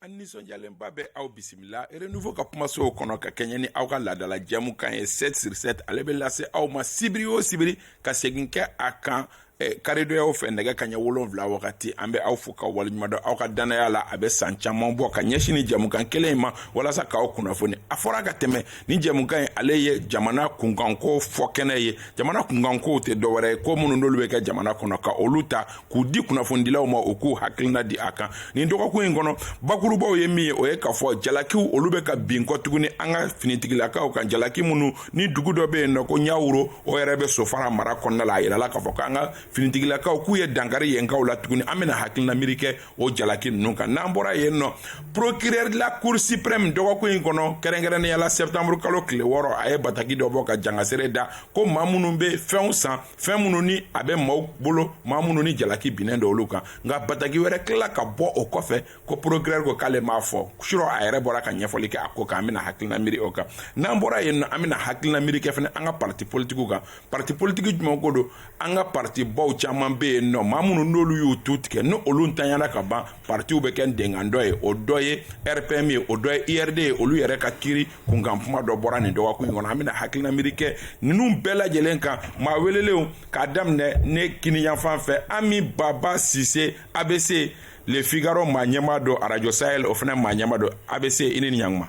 an nisɔndiyalenba bɛ aw bisimila renouveau ka kumasow kɔnɔ ka kɛɲɛ ni aw ka laadala jɛmukan ye 7 sur 7 ale bɛ lase aw ma sibiri o sibiri ka segin kɛ a kan eh, karidonyaw fɛ nɛgɛ kaɲɛ wolonfila wagati an bɛ aw fo ka waleɲumandɔn aw ka dannaya la a bɛ san caman bɔ ka ɲɛsin ni jɛmukan kelen in ma walasa k'aw kunnafoni a fɔra ka tɛmɛ ni jɛmukan in ale ye jamana kunkanko fɔ kɛnɛ ye jamana kunkankow tɛ dɔwɛrɛ ye ko minnu n'olu bɛ kɛ jamana kɔnɔ ka olu ta k'u di kunnafonidilaw ma u k'u hakilina di a kan nin dɔgɔkun in kɔnɔ bakurubaw ye min ye o ye k'a fɔ jalakiw olu bɛ ka bin kɔ tuguni an ka finitigilakaw kan jalaki minnu ni dugu dɔ bɛ yen nɔ ko ɲawuro o yɛrɛ bɛ sofara mara kɔnɔna la a yirala k'a fɔ k'an ka finitigilakaw k'u ye dankari yenkaw la tuguni an bɛna hakilina miiri kɛ o jalaki ninnu kan n'an bɔra yen nɔ procureur de la cour suprême dɔgɔkun in kɔnɔ kɛrɛnkɛrɛnnenya la septembre kalo tile wɔɔrɔ a ye bataki dɔ bɔ ka jangasere da ko maa minnu bɛ fɛnw san fɛn minnu ni a bɛ maaw bolo maa minnu ni jalaki binnen don olu kan nka bataki wɛrɛ tilala ka bɔ o kɔfɛ ko procureur ko k'ale m'a fɔ surɔ a yɛrɛ bɔra ka ɲɛfɔli kɛ a ko kan an bɛna hakilina miiri o kan n'an bɔra yen nɔ an bɛna hakilina miiri kɛ fana an ka pariti politikiw kan pariti politiki jumɛn ko don an ka pariti baw caman bɛ yen nɔ maa minnu n'olu y'u tu tigɛ n'olu ntanyana ka ban partiw bɛ kɛ denkan dɔ ye o dɔ ye rpm ye o dɔ ye urd ye olu yɛrɛ ka kiri kunkan kuma dɔ bɔra nin dɔgɔkun in kɔnɔ an bɛna hakilina miiri kɛ ninnu bɛɛ lajɛlen kan maa welelenw k'a daminɛ ne kiniyanfan fɛ ami baba sise abc le figaro maa ɲɛmaa don arajo sahel o fana maa ɲɛmaa don abc i ni ɲanguma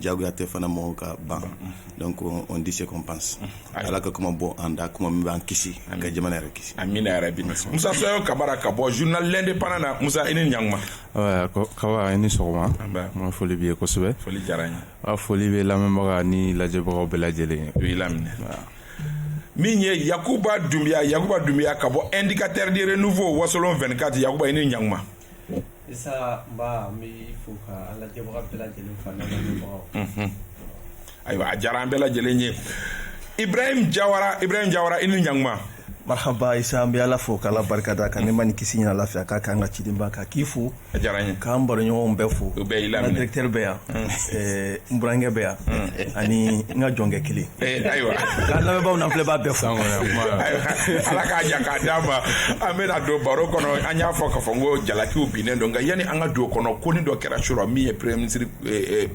jagoya tɛ fana mɔgɔw ka ban donc on dit ce qu'on pense ala ka kuma bɔ an da kuma min b'an kisi ka jamana yɛrɛ kisi amina yarabi musa sayon kamara ka bɔ journal l'indépendant na musa i ni ɲanguma kaba i ni sɔgɔma nba foli b'i ye kosɛbɛ foli diyara n ye awa foli bɛ lamɛnbaga ni lajɛbagaw bɛɛ lajɛlen ye u y'i laminɛ min ye yakuba dunbiya yakuba dunbiya ka bɔ indicateur du renouveau wasolon 24 yakuba i ni ɲanguma Isa nba n b'i fo ka an lajɛbaga bɛɛ lajɛlen fo ani an lamɛnbagaw unhun ayiwa a diyara an bɛɛ lajɛlen ye Ibrahim Diawara Ibrahim Diawara i ni ɲaŋuma marhaba Isa an bɛ Ala fo k'Ala barikada ka nɛɛma ni kisi ni lafiya k'a k'an ka cidenba kan k'i fo a diyara n ye k'an baroɲɔgɔnw bɛɛ fo u bɛɛ y'i laminɛ n ka directeur bɛ yan n burankɛ bɛ yan ani n ka jɔnkɛ kelen ayiwa ka lamɛnbaaw n'a filɛbaa bɛɛ fo ala k'a ɲa k'a d'an ma an bɛna don baro kɔnɔ an y'a fɔ k'a fɔ n ko jalakiw binnen don nka yanni an ka don kɔnɔ konin dɔ kɛra surɔ min ye premier ministre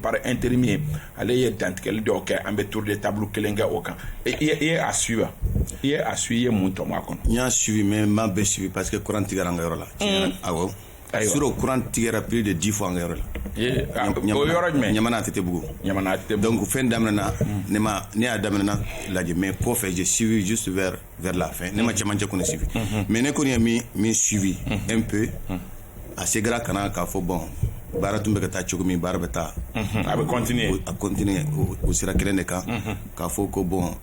par intérim ye ale ye dantigɛli dɔw kɛ an bɛ tour de table kelen kɛ o kan i ye a suivi wa i ye a suivi i ye mun tɔmɔ a kɔnɔ n y'a suivi mais n m'a bɛɛ suivi parce que courant tigɛra an ka yɔrɔ la awɔ surɔ kuran tigɛra plus de dix fois an ka yɔrɔ la ɲamana tɛtɛbugu donc fɛn daminɛna ne ma ne y'a daminɛna lajɛ mais kɔfɛ j'ai suivi juste vers la fin ne ma cɛmancɛ kɔni suivi mais ne kɔni ye min min suivi un peu a seginna ka na k'a fɔ bon baara tun bɛ ka taa cogo min baara bɛ taa a bɛna continuer o sira kelen de kan k'a fɔ ko bon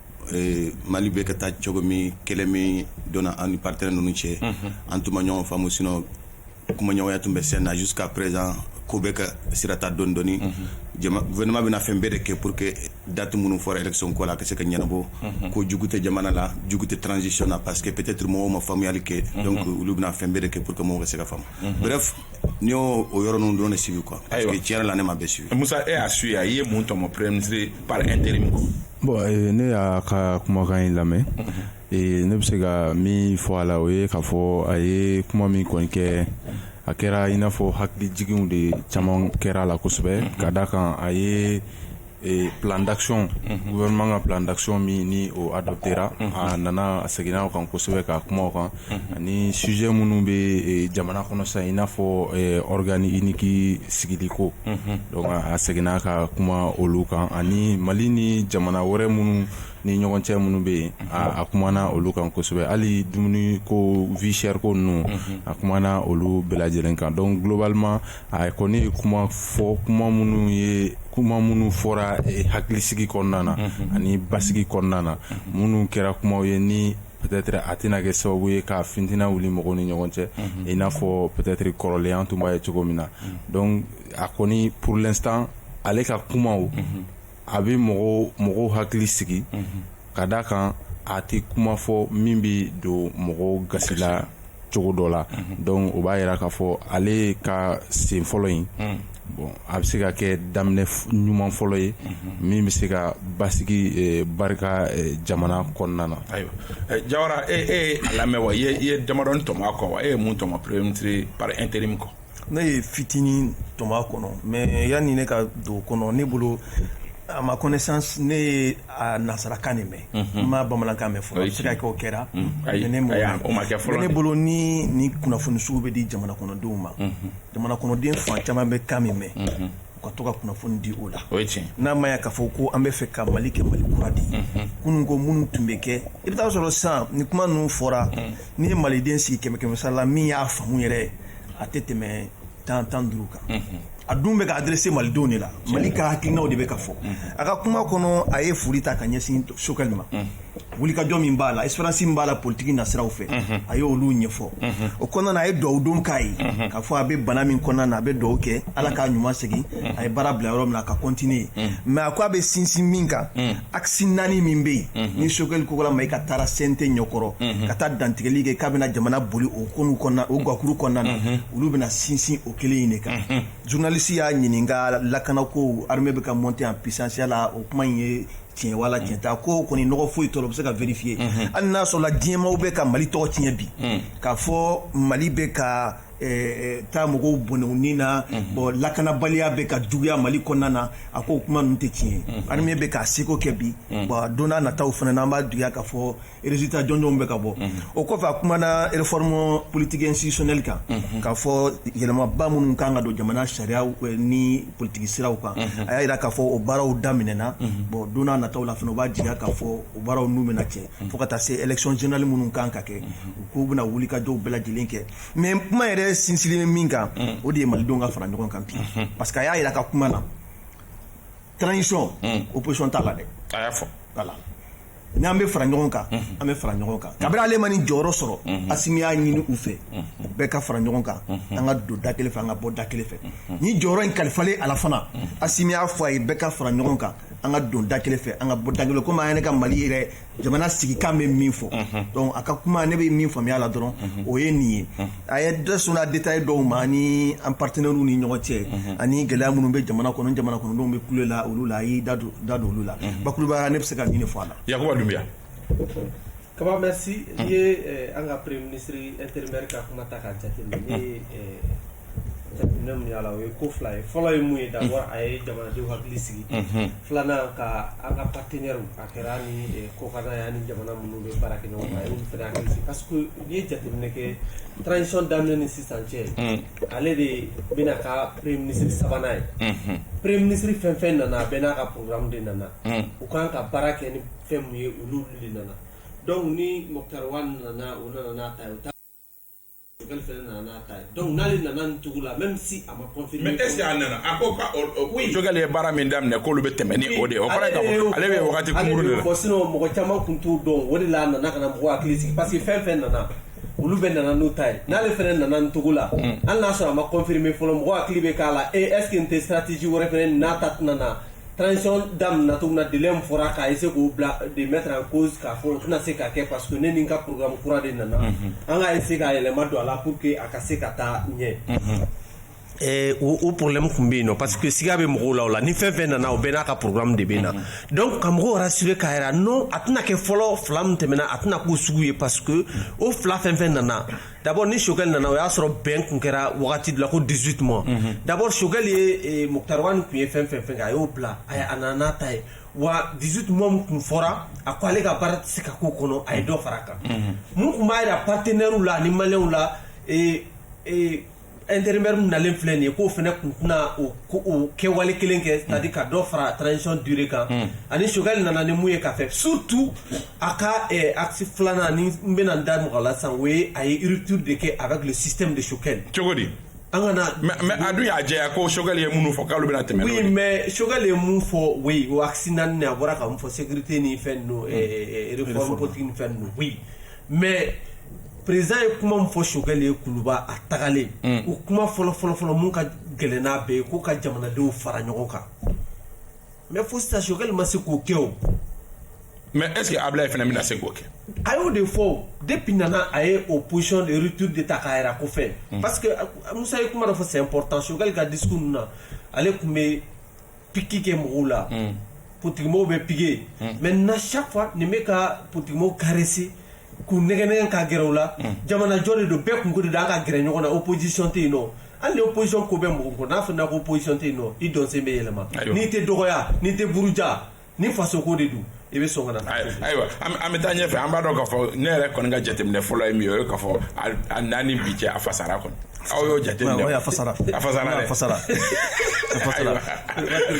mali bɛ ka taa cogo min kɛlɛ min donna an ni partenaire ninnu cɛ an tun ma ɲɔgɔn faamu sinon kumaɲɔgɔnya tun bɛ sen na jusqu'à présent ko bɛ ka sira ta dɔɔni dɔɔni gouvernement bɛna fɛn bɛɛ de kɛ pour que date minnu fɔra élection ko la a ka se ka ɲɛnabɔ ko jugu tɛ jamana la jugu tɛ transition na parce que peut-être mɔgɔw ma faamuyali kɛ donc olu bɛna fɛn bɛɛ de kɛ pour que mɔgɔw ka se ka faamu ne y'o yɔrɔ ninnu dɔrɔn de suivi quoi parce que Ayiwa. tiɲɛ yɛrɛ la ne ma bɛɛ suivi musa e y'a suivi wa i ye mun tɔmɔ premier ministre par intérim kɔ bon eh, ne y'a ka kumakan in lamɛn eh, ne bɛ se ka min fɔ a la o ye k'a fɔ a ye kuma min kɔni kɛ a kɛra i n'a fɔ hakili jiginw de caman kɛra a la kosɛbɛ ka da kan a ye ee plan d'action gouvernement ka plan d'action min ni o adoptera a nana a seginna o kan kosɛbɛ ka kuma o kan ani sujet minnu bɛ ee, jamana kɔnɔ sisan i n'a fɔ ee, organe unique sigili ko donc a seginna ka kuma olu kan ani mali ni jamana wɛrɛ minnu ni ɲɔgɔn cɛ minnu bɛ yen a a kumana olu kan kosɛbɛ hali dumuni ko vie chère ko ninnu a kumana olu bɛɛ lajɛlen kan donc globalement a kɔni ye kuma fɔ kuma minnu ye kuma minnu fɔra hakilisigi kɔnɔna na ani basigi kɔnɔna na minnu kɛra kumaw ye ni peut-être a tɛna kɛ sababu ye ka fitina wili mɔgɔw ni ɲɔgɔn cɛ i n'a fɔ peut-être kɔrɔlen an tun b'a ye cogo min na donc a kɔni pour l'instant ale ka kuma a bɛ mɔgɔw mɔgɔw hakili sigi ka d' a kan a tɛ kuma fɔ min bɛ don mɔgɔw gasi la cogo dɔ la donc o b'a jira k'a fɔ ale ka sen fɔlɔ in bon a bɛ se ka kɛ daminɛ ɲuman fɔlɔ ye min bɛ se ka basigi barika jamana kɔnɔna na ayiwa jawara e y'a lamɛn wa i ye damadɔnin tɔmɔ a kɔ wa e ye mun tɔmɔ premier ministre par intérim kɔ ne ye fitinin tɔmɔ a kɔnɔ mais yanni ne ka don o kɔnɔ ne bolo à ma connaissance ne ye a nansarakan de mɛn n ma bamanankan mɛn fɔlɔ a bɛ se ka kɛ o kɛra mais ne m'o ayi, mɛn. o ma kɛ fɔlɔ Mais ne dɛ. bolo ni ni kunnafoni sugu bɛ di jamana kɔnɔdenw ma jamana kɔnɔden fan caman bɛ kan min mɛn u ka to ka kunnafoni di o la n'a ma k'a fɔ ko an b'a fɛ ka mali kɛ mali kura di kunun ko minnu tun bɛ kɛ i bɛ taa a sɔrɔ san ni kuma ninnu fɔra n'i ye maliden sigi kɛmɛ kɛmɛsara la min y'a faamu yɛrɛ a tɛ tɛmɛ tan tan duuru kan a dun bɛ ka adresser malidenw de la mali ka hakilinaw de bɛ ka fɔ a ka kuma kɔnɔ a ye foli ta ka ɲɛsin sogɛli ma wulikajɔ min b'a la expérience min b'a la politiki nasiraw fɛ a ye olu ɲɛfɔ o kɔnɔna na a ye duwawu don k'a ye k'a fɔ a bɛ bana min kɔnɔna na a bɛ duwawu kɛ ala k'a ɲuman segin a ye baara bila yɔrɔ min na a ka continuer mais a ko a bɛ sinsin min kan axe naani min bɛ yen ni sokɛli kokala mayiga taara CNT ɲɛkɔrɔ ka taa dantigɛli kɛ k'a bɛna jamana boli o gakuru kɔnɔna na olu bɛna sinsin o kelen in de kan journaliste y'a ɲininka lakanako armée bɛ ka monter en puissance yala o kuma in ye tiɲɛ wala mm. tiɲɛ tɛ a ko kɔni nɔgɔ foyi t'o rɔ bɛ se ka vérifier mm-hmm. hali n'a sɔrɔla diɲɛmaw bɛ ka mali tɔgɔ tiɲɛ bi mm. k'a fɔ mali bɛ ka eh, eh, taa mɔgɔw bɔnɛ u ni na mm-hmm. bon lakanabaliya bɛ ka juguya mali kɔnɔna na a ko kuma ninnu tɛ tiɲɛ armée mm-hmm. bɛ k'a seko kɛ bi bon don n'a nataw fana na an b'a jigiya k'a fɔ résultat jɔnjɔnw bɛ ka bɔ o kɔfɛ a kumana réforme politique institutionnelle kan k'a fɔ yɛlɛmaba minnu kan ka don jamana sariya ni politigi siraw kan a y'a jira k'a fɔ o baaraw daminɛna bon don nataw la fana u b'a jigiya k'a fɔ o baara ninnu bɛna kɛ fo ka taa se élection générale minnu kan ka kɛ u k'u bɛna wulikajɔw bɛɛ lajɛlen kɛ mais kuma yɛrɛ sinsinnen ye min kan o de ye malidenw ka fara ɲɔgɔn kan bi parce que a y'a jira a ka kuma na transition opposition t'a la dɛ a y'a fɔ n'an bɛ fara ɲɔgɔn kan an bɛ fara ɲɔgɔn kan kabini ale ma nin jɔyɔrɔ sɔrɔ asimi y'a ɲini u fɛ u bɛɛ ka fara ɲɔgɔn kan an ka don da kelen fɛ an ka bɔ da kelen fɛ nin jɔyɔrɔ in kalifalen a la fana asimi y'a fɔ a ye bɛɛ ka fara ɲɔgɔn kan an ka don da kelen fɛ an ka bɔ da kelen komi an yɛrɛ ka mali yɛrɛ jamana sigikan bɛ min fɔ donc a ka kuma ne bɛ min faamuya la dɔrɔn o ye nin ye a ye dɔ sɔnna détail dɔw ma ni an partenaires ni ɲɔgɔn cɛ ani gɛlɛya minnu bɛ jamana kɔnɔ jamana kɔnɔdenw bɛ kule la olu la a y'i da don olu la bakurubaya ne bɛ se ka nin de fɔ a la yakuba dunbiya kaba merci i ye an ka premier ministre intérimaire ka kuma ta k'a jateminɛ min y'a la o ye ko fila ye fɔlɔ ye mun ye d'abord a ye jamanadenw hakili sigi filanan ka an ka partenaires Kɛra ni kɔkara yan ni jamana minnu bɛ baara kɛ ɲɔgɔn n ye jate nɛgɛ tcɔn daminɛ ni sisan cɛ ale de ye bɛna ka pere minisiriri sabanan ye pere minisiriri fɛn fɛn nana a bɛ n'a ka poromu de nana u kan ka baara kɛ ni fɛn ye olu de nana dɔnku ni mɔgɔkarawa nana u nana Sokɛli ye baara min daminɛ k'olu bɛ tɛmɛ ni o de ye o kɔrɔ ye k'a fɔ ale bɛ wagati kunkurun de la sinon mɔgɔ caman tun t'o dɔn o de la a nana ka na mɔgɔw hakili sigi parce que fɛn fɛn nana olu bɛɛ nana n'u ta ye n'ale fana nana nin cogo la hali n'a sɔrɔ a ma confirmer fɔlɔ mɔgɔw hakili bɛ k'a la est-ce que tɛ stratégie wɛrɛ fana n'a ta tɛna na transition daminɛ cogo min na délai min fɔra k'a essayer k'o bila de mettre en cause k'a fɔ o tɛna se ka kɛ parce que ne ni n ka programme kura de nana an ka essayer ka yɛlɛma don a la pour que a ka se ka taa ɲɛ. Eh, o, o problème kun bɛ yen nɔ parce que siga bɛ mɔgɔw la o la ni fɛn fɛn nana o bɛɛ n'a ka programme de bɛ na donc ka mɔgɔw rassurer k'a yira non a tɛna kɛ fɔlɔ fila min tɛmɛna a tɛna k'o sugu ye parce que o fila fɛn fɛn nana dabɔ ni sokɛkɛ nana o y'a sɔrɔ bɛn tun kɛra wagati la ko di tuma dabɔ sokɛ ye muta tun ye fɛn fɛn fɛ a y'o bila a a nana ta ye wa di tun tun fɔra a ko ale ka baara se ka ko kɔnɔ a ye dɔ fara a kan tun b'a jira pateɛw la ni maw la intérimaire min nalen filɛ nin ye k'o fɛnɛ kun tɛna o ko o kɛwale kelen kɛ c'est à dire ka dɔ fara transition durée kan ani Choguel nana ni mun ye ka fɛ surtout a ka eh, axe filanan ni n bɛna n da mɔgɔ la sisan o ye a ye rupture de kɛ avec le système de Choguel cogo di an kana mais mais a dun y'a jɛya ko Choguel ye minnu fɔ k'olu bɛna tɛmɛ n'o oui ye mais Choguel ye mun fɔ oui o axe naani a bɔra ka mun fɔ sécurité ni fɛn ninnu eh, eh, réforme politique ni fɛn ninnu oui mais président ye kuma min fɔ Choguel ye kuluba a tagalen o kuma fɔlɔ fɔlɔfɔlɔ min ka gɛlɛn n'a bɛɛ ye ko ka jamanadenw fara ɲɔgɔn kan mais fo sisan Choguel ma se k'o kɛ o mais est-ce que Ablaye fana bɛna se k'o kɛ a y'o de fɔ depuis a nana a ye o position de rupture de ta k'a yira ko fɛn parce que musa ye kuma dɔ fɔ c'est important Choguel ka discours ninnu na ale tun bɛ piki kɛ mɔgɔw la hmm. politigimɔgɔw bɛ piquer hmm. maintenant chaque fois nin bɛ ka politigimɔgɔw caresser k'u nɛgɛnɛgɛn ka gɛrɛ u la hmm. jamanajɔ de don bɛɛ kunko de don an ka gɛrɛ ɲɔgɔn na opposition tɛ yen nɔ hali ni opposition ko bɛ mɔgɔ kɔ n'a fɔra ko opposition tɛ yen nɔ i dɔnsen bɛ yɛlɛma n'i tɛ dɔgɔya n'i tɛ buruja ni fasoko de don i bɛ sɔn ka na ayiwa an bɛ taa ɲɛfɛ an b'a dɔn k'a fɔ ne yɛrɛ kɔni ka jateminɛ fɔlɔ ye min ye o ye k'a fɔ a nani bi cɛ a fasara kɔni aw y'o jateminɛ a fasara a fasara dɛ a fasara a fasara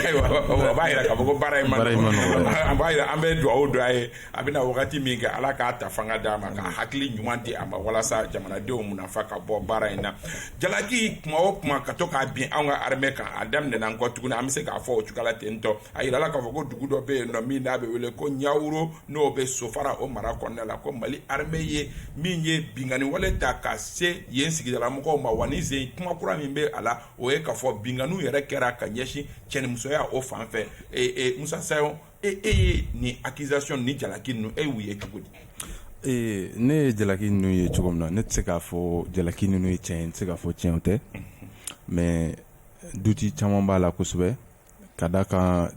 ayiwa a b'a yira k'a fɔ ko baara in ma a b'a yira an bɛ dugawu don a ye a bɛna wagati min kɛ ala k'a ta fanga d'a ma ka hakili ɲuman di a ma walasa jamanadenw munafa ka bɔ baara in na jalaki kuma o kuma ka to ka bin anw ka armée kan a daminɛna an kɔ tuguni an bɛ se k'a fɔ o cogoya la ten tɔ a yirala k'a fɔ ko dugu dɔ bɛ yen nɔ min n'a bɛ wele ko ɲawuro n'o bɛ sofara o mara kɔnɔna la ko mali armée ye min ye binkanni wale ta ka se yen sigidalamɔgɔw ma wa nin sen kuma kura min bɛ a la o ye k'a fɔ binkanniw yɛrɛ kɛra ka ɲɛsin cɛnimusoya o fan fɛ ee ee musa sayon e e ye nin accusation ni jalaki ninnu e y'u ye cogo di. ee ne ye jalaki ninnu ye cogo min na ne tɛ se k'a fɔ jalaki ninnu ye tiɲɛ ye n tɛ se k'a fɔ tiɲɛ tɛ mais duti caman b'a la kosɛbɛ. ka da kan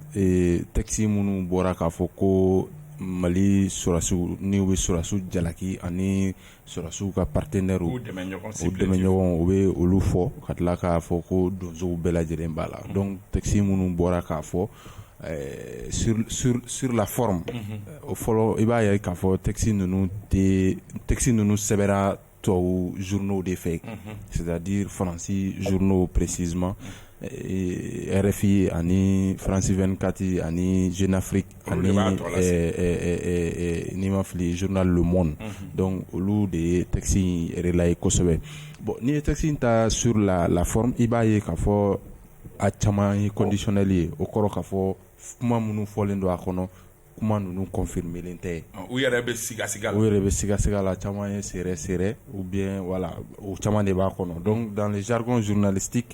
texte minnu bɔra k'a fɔ ko mali sɔrɔsiw ni u bɛ sɔrɔsiw jalaki ani sɔrɔsiw ka partenaires u dɛmɛɲɔgɔn u bɛ olu fɔ ka tila k'a fɔ ko donsow bɛɛ lajɛlen b'a la dɔnku texte minnu bɔra k'a fɔ sur la forme o fɔlɔ i b'a ye k'a fɔ texte ninnu tɛ texte ninnu sɛbɛra tubabu zurunrinaw de fɛ sidadi faransi zurunrinaw presi ma rfi ani faransi2 kati ani zefiri ani ni ma fili zuruna lom dɔnku olu de ye takisi yɛrɛla ye kosɛbɛ bɔn n'i ye takisi in ta s la la i b'a ye k'a fɔ a caman ye kɔndisili ye o kɔrɔ k'a fɔ kuma minnu fɔlen don a kɔnɔ kuma ninnu kɔnfiele tɛ u yɛrɛ bɛ skasɛgɛ u yɛrɛ bɛ skasɛgɛ la caman ye sɛ sɛ u bɛ wala o caman de b'a kɔnɔ dɔn dan zirikon zvinalisiti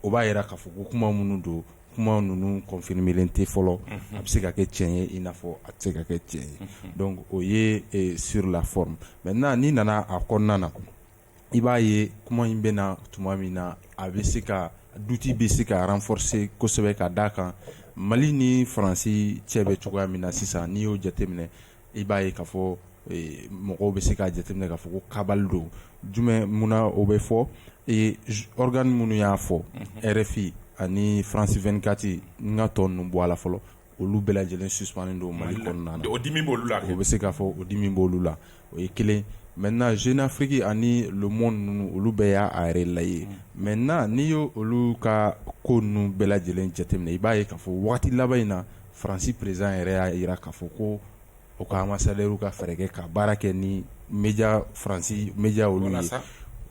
o b'a jira k'a fɔ ko kuma minnu don kuma ninnu kɔnfibele tɛ fɔlɔ a bɛ se ka kɛ cɛn ye i n'a fɔ a se ka kɛ cɛn ye o ye sla mɛ n' nana a kɔnɔna na i b'a ye kuma in bɛ na tuma min na a bɛ se ka doute bɛ se ka renforcer kosɛbɛ ka da a kan mali ni faransi cɛ bɛ cogoya min na sisan n'i y'o jateminɛ i b'a ye k'a fɔ mɔgɔw bɛ se k'a jateminɛ k'a fɔ ko cabale don jumɛn munna o bɛ fɔ organe minnu y'a fɔ rfi ani france 24 n ka tɔ ninnu bɔ a la fɔlɔ olu bɛɛ lajɛlen suspannen don mali kɔnɔna o dimi b' olu la o bɛ se k'a fɔ o dimi b' olu la o ye kelen maintenant jeune afrique ani le monde ninnu olu bɛɛ y'a relayer maintenant n'i y' olu ka ko ninnu bɛɛ lajɛlen jateminɛ i b'a ye k'a fɔ waati laban in na faransi président yɛrɛ y'a jira k'a fɔ ko o ka ambassadeurw ka fɛɛrɛ kɛ ka baara kɛ ni média faransi média olu ye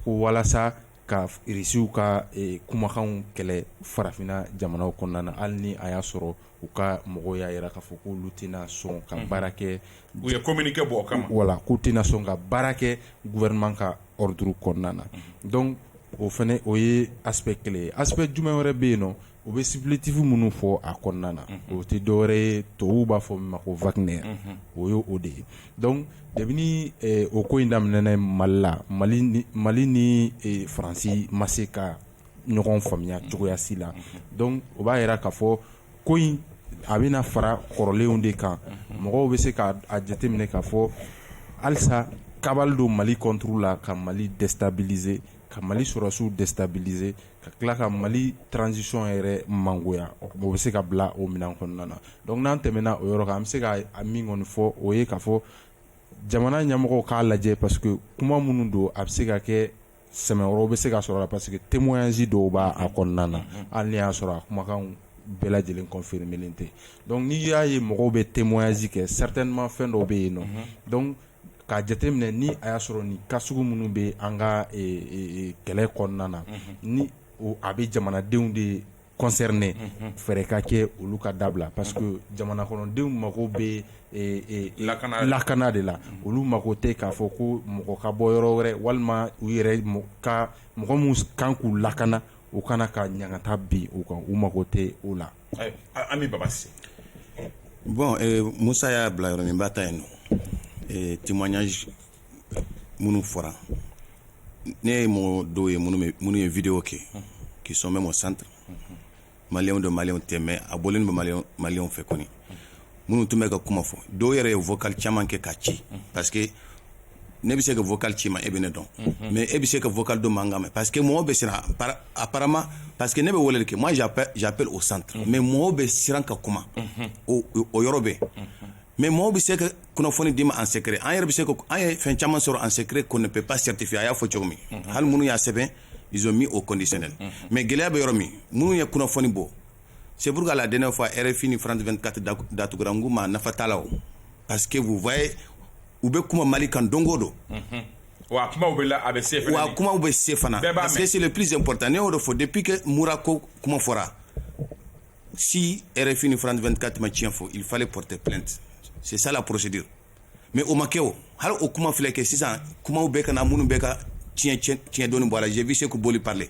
ko walasa ka irisiw ka kumakanw kɛlɛ farafinna jamanaw kɔnɔna na hali ni a y'a sɔrɔ u ka mɔgɔw y'a jira k'a fɔ ko olu tɛna sɔn ka baara kɛ u ye communiqué bɔ o kan voilà k'u tɛna sɔn ka baara kɛ gouvernement ka ordre kɔnɔna na dɔnku o fɛnɛ o ye aspect kelen ye aspect jumɛn wɛrɛ bɛ yen nɔ u bɛ supplétif minnu fɔ a kɔnɔna na o tɛ dɔwɛrɛ ye tubabu b'a fɔ min ma ko wagner o ye o de ye dɔnku kabini o ko in daminɛna mali la mali ni faransi ma se ka ɲɔgɔn faamuya cogoya si la dɔnku o b'a jira k'a fɔ ko in a bɛna fara kɔrɔlenw de kan mɔgɔw bɛ se k'a jateminɛ k'a fɔ halisa cabale don mali contre la ka mali déstabiliser ka mali sɔrɔsiw déstabiliser ka tila ka mali transition yɛrɛ mangoya o bɛ se ka bila o minɛn kɔnɔna na donc n'an tɛmɛna o yɔrɔ kan an bɛ se ka a min kɔni fɔ o ye k'a fɔ jamana ɲɛmɔgɔw k'a lajɛ parce que kuma minnu don a bɛ se ka kɛ sɛmɛyɔrɔw bɛ se ka sɔrɔ la parce que témoignage dɔw b' a kɔnɔna na hali ni y'a sɔrɔ a kumakan bɛɛ lajɛlen confirmélen tɛ donc n'i y'a ye mɔgɔw bɛ témoignage kɛ certainement fɛn dɔw bɛ yen nɔ k'a jateminɛ ni a y'a sɔrɔ nin cas sugu minnu bɛ an ka kɛlɛ kɔnɔna na ni a bɛ jamanadenw de concerner fɛɛrɛ ka kɛ olu ka dabila parce que jamana kɔnɔdenw mago bɛ lakana de la olu mago tɛ k'a fɔ ko mɔgɔ ka bɔ yɔrɔ wɛrɛ walima u yɛrɛ ka mɔgɔ minnu kan k'u lakana u ka na ka ɲangata bin u kan u mago tɛ o la Ami Baba Cissé bon musa y'a bila yɔrɔ min b'a ta yen nɔ témoignage minnu fɔra ne ye mɔgɔ dɔw ye minnu ye vidéo kɛ qui sont même au centre maliyɛnw don maliyɛnw tɛ mais a bɔlen bɛ maliyɛnw fɛ kɔni minnu tun bɛ ka kuma fɔ dɔw yɛrɛ ye vocal caman kɛ ka ci parce que ne bɛ se ka vocal ci i ma e bɛ ne dɔn mais e bɛ se ka vocal dɔ mankan mɛn parce que mɔgɔw bɛ siran apparemment parce que ne bɛ weleli kɛ moi j'appelle au centre mais mɔgɔw bɛ siran ka kuma o yɔrɔ bɛ mais mɔgɔw bɛ se ka kunnafoni d'i ma en secret an yɛrɛ bɛ se ka an ye fɛn caman sɔrɔ en secret qu'on ne peut pas certifier a y'a fɔ cogo min hali minnu y'a sɛbɛn ils ont mis au conditionnel mais gɛlɛya bɛ yɔrɔ min minnu ye kunnafoni bɔ Seuru ka la den fɔ rfin ni fana tun kati datuguranku ma nafa t'a la o pa que b'fa ye u bɛ kuma mali kan donko don wa kuma bɛ la a bɛ se wa kumaw bɛ se fana bɛɛ' se seli psi ppta n y'o de fɔ de ppkɛ mura ko kuma fɔra si rfin ni fana tun kati tiɲɛɲɛn fɔ i falen pote plɛti sisala psidi mɛ o makɛ o hali o kuma filɛ kɛ sisan kuma bɛ ka minnu bɛ ka tiɲɛdon bɔra jɛ bɛ se' boli pale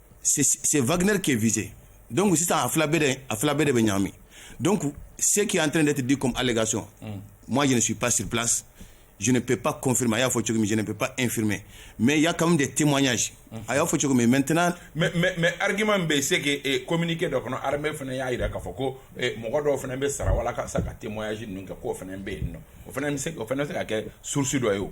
c'est Wagner qui est visé donc sisan a fila bɛɛ de a fila bɛɛ de bɛ ɲagami donc ce qui est en train d'être dit comme allégation mm. moi je ne suis pas sur place je ne peux pas confirmer a y'a fɔ cogo min je ne peux pas infirmer mais il y a quand même des témoignages mm. a y'a fɔ cogo min maintenant mais mais mais argument bɛ yen c'est que eh, communiqué dɔ kɔnɔ armée fana y'a jira k'a fɔ ko eh, mɔgɔ dɔw fana bɛ sara walasa ka témoignage ninnu kɛ k'o fana bɛ yen nɔ o fana bɛ se o fana bɛ se ka kɛ source dɔ ye o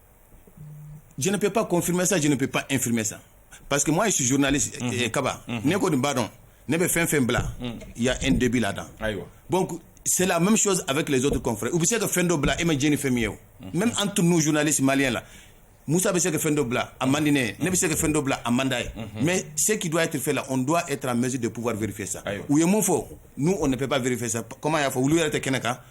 jɛnɛp pa kɔnfimmesa jɛnɛp pa efmesa pa que ma ye su zurunli kaba ne ko nin badɔ ne bɛ fɛn fɛn bila yan n dɛbi la tan bɔn seli mɛ su a bɛ tileso tɛfɛ u bɛ se ka fɛn dɔ bila e ma jni fɛn min ye o mɛ an tun n' zunlalisi mali la musa bɛ se ka fɛn dɔ bila a mande ne bɛ se ka fɛn dɔ bila a manda ye mɛ seki don a tɛfe la n don e taara mɛsi de pppfa vfɛ sa u ye mun fɔ n'u o nepp vfɛ sa kɔmi y'a fɔ olu yɛrɛ tɛ kɛnɛ kan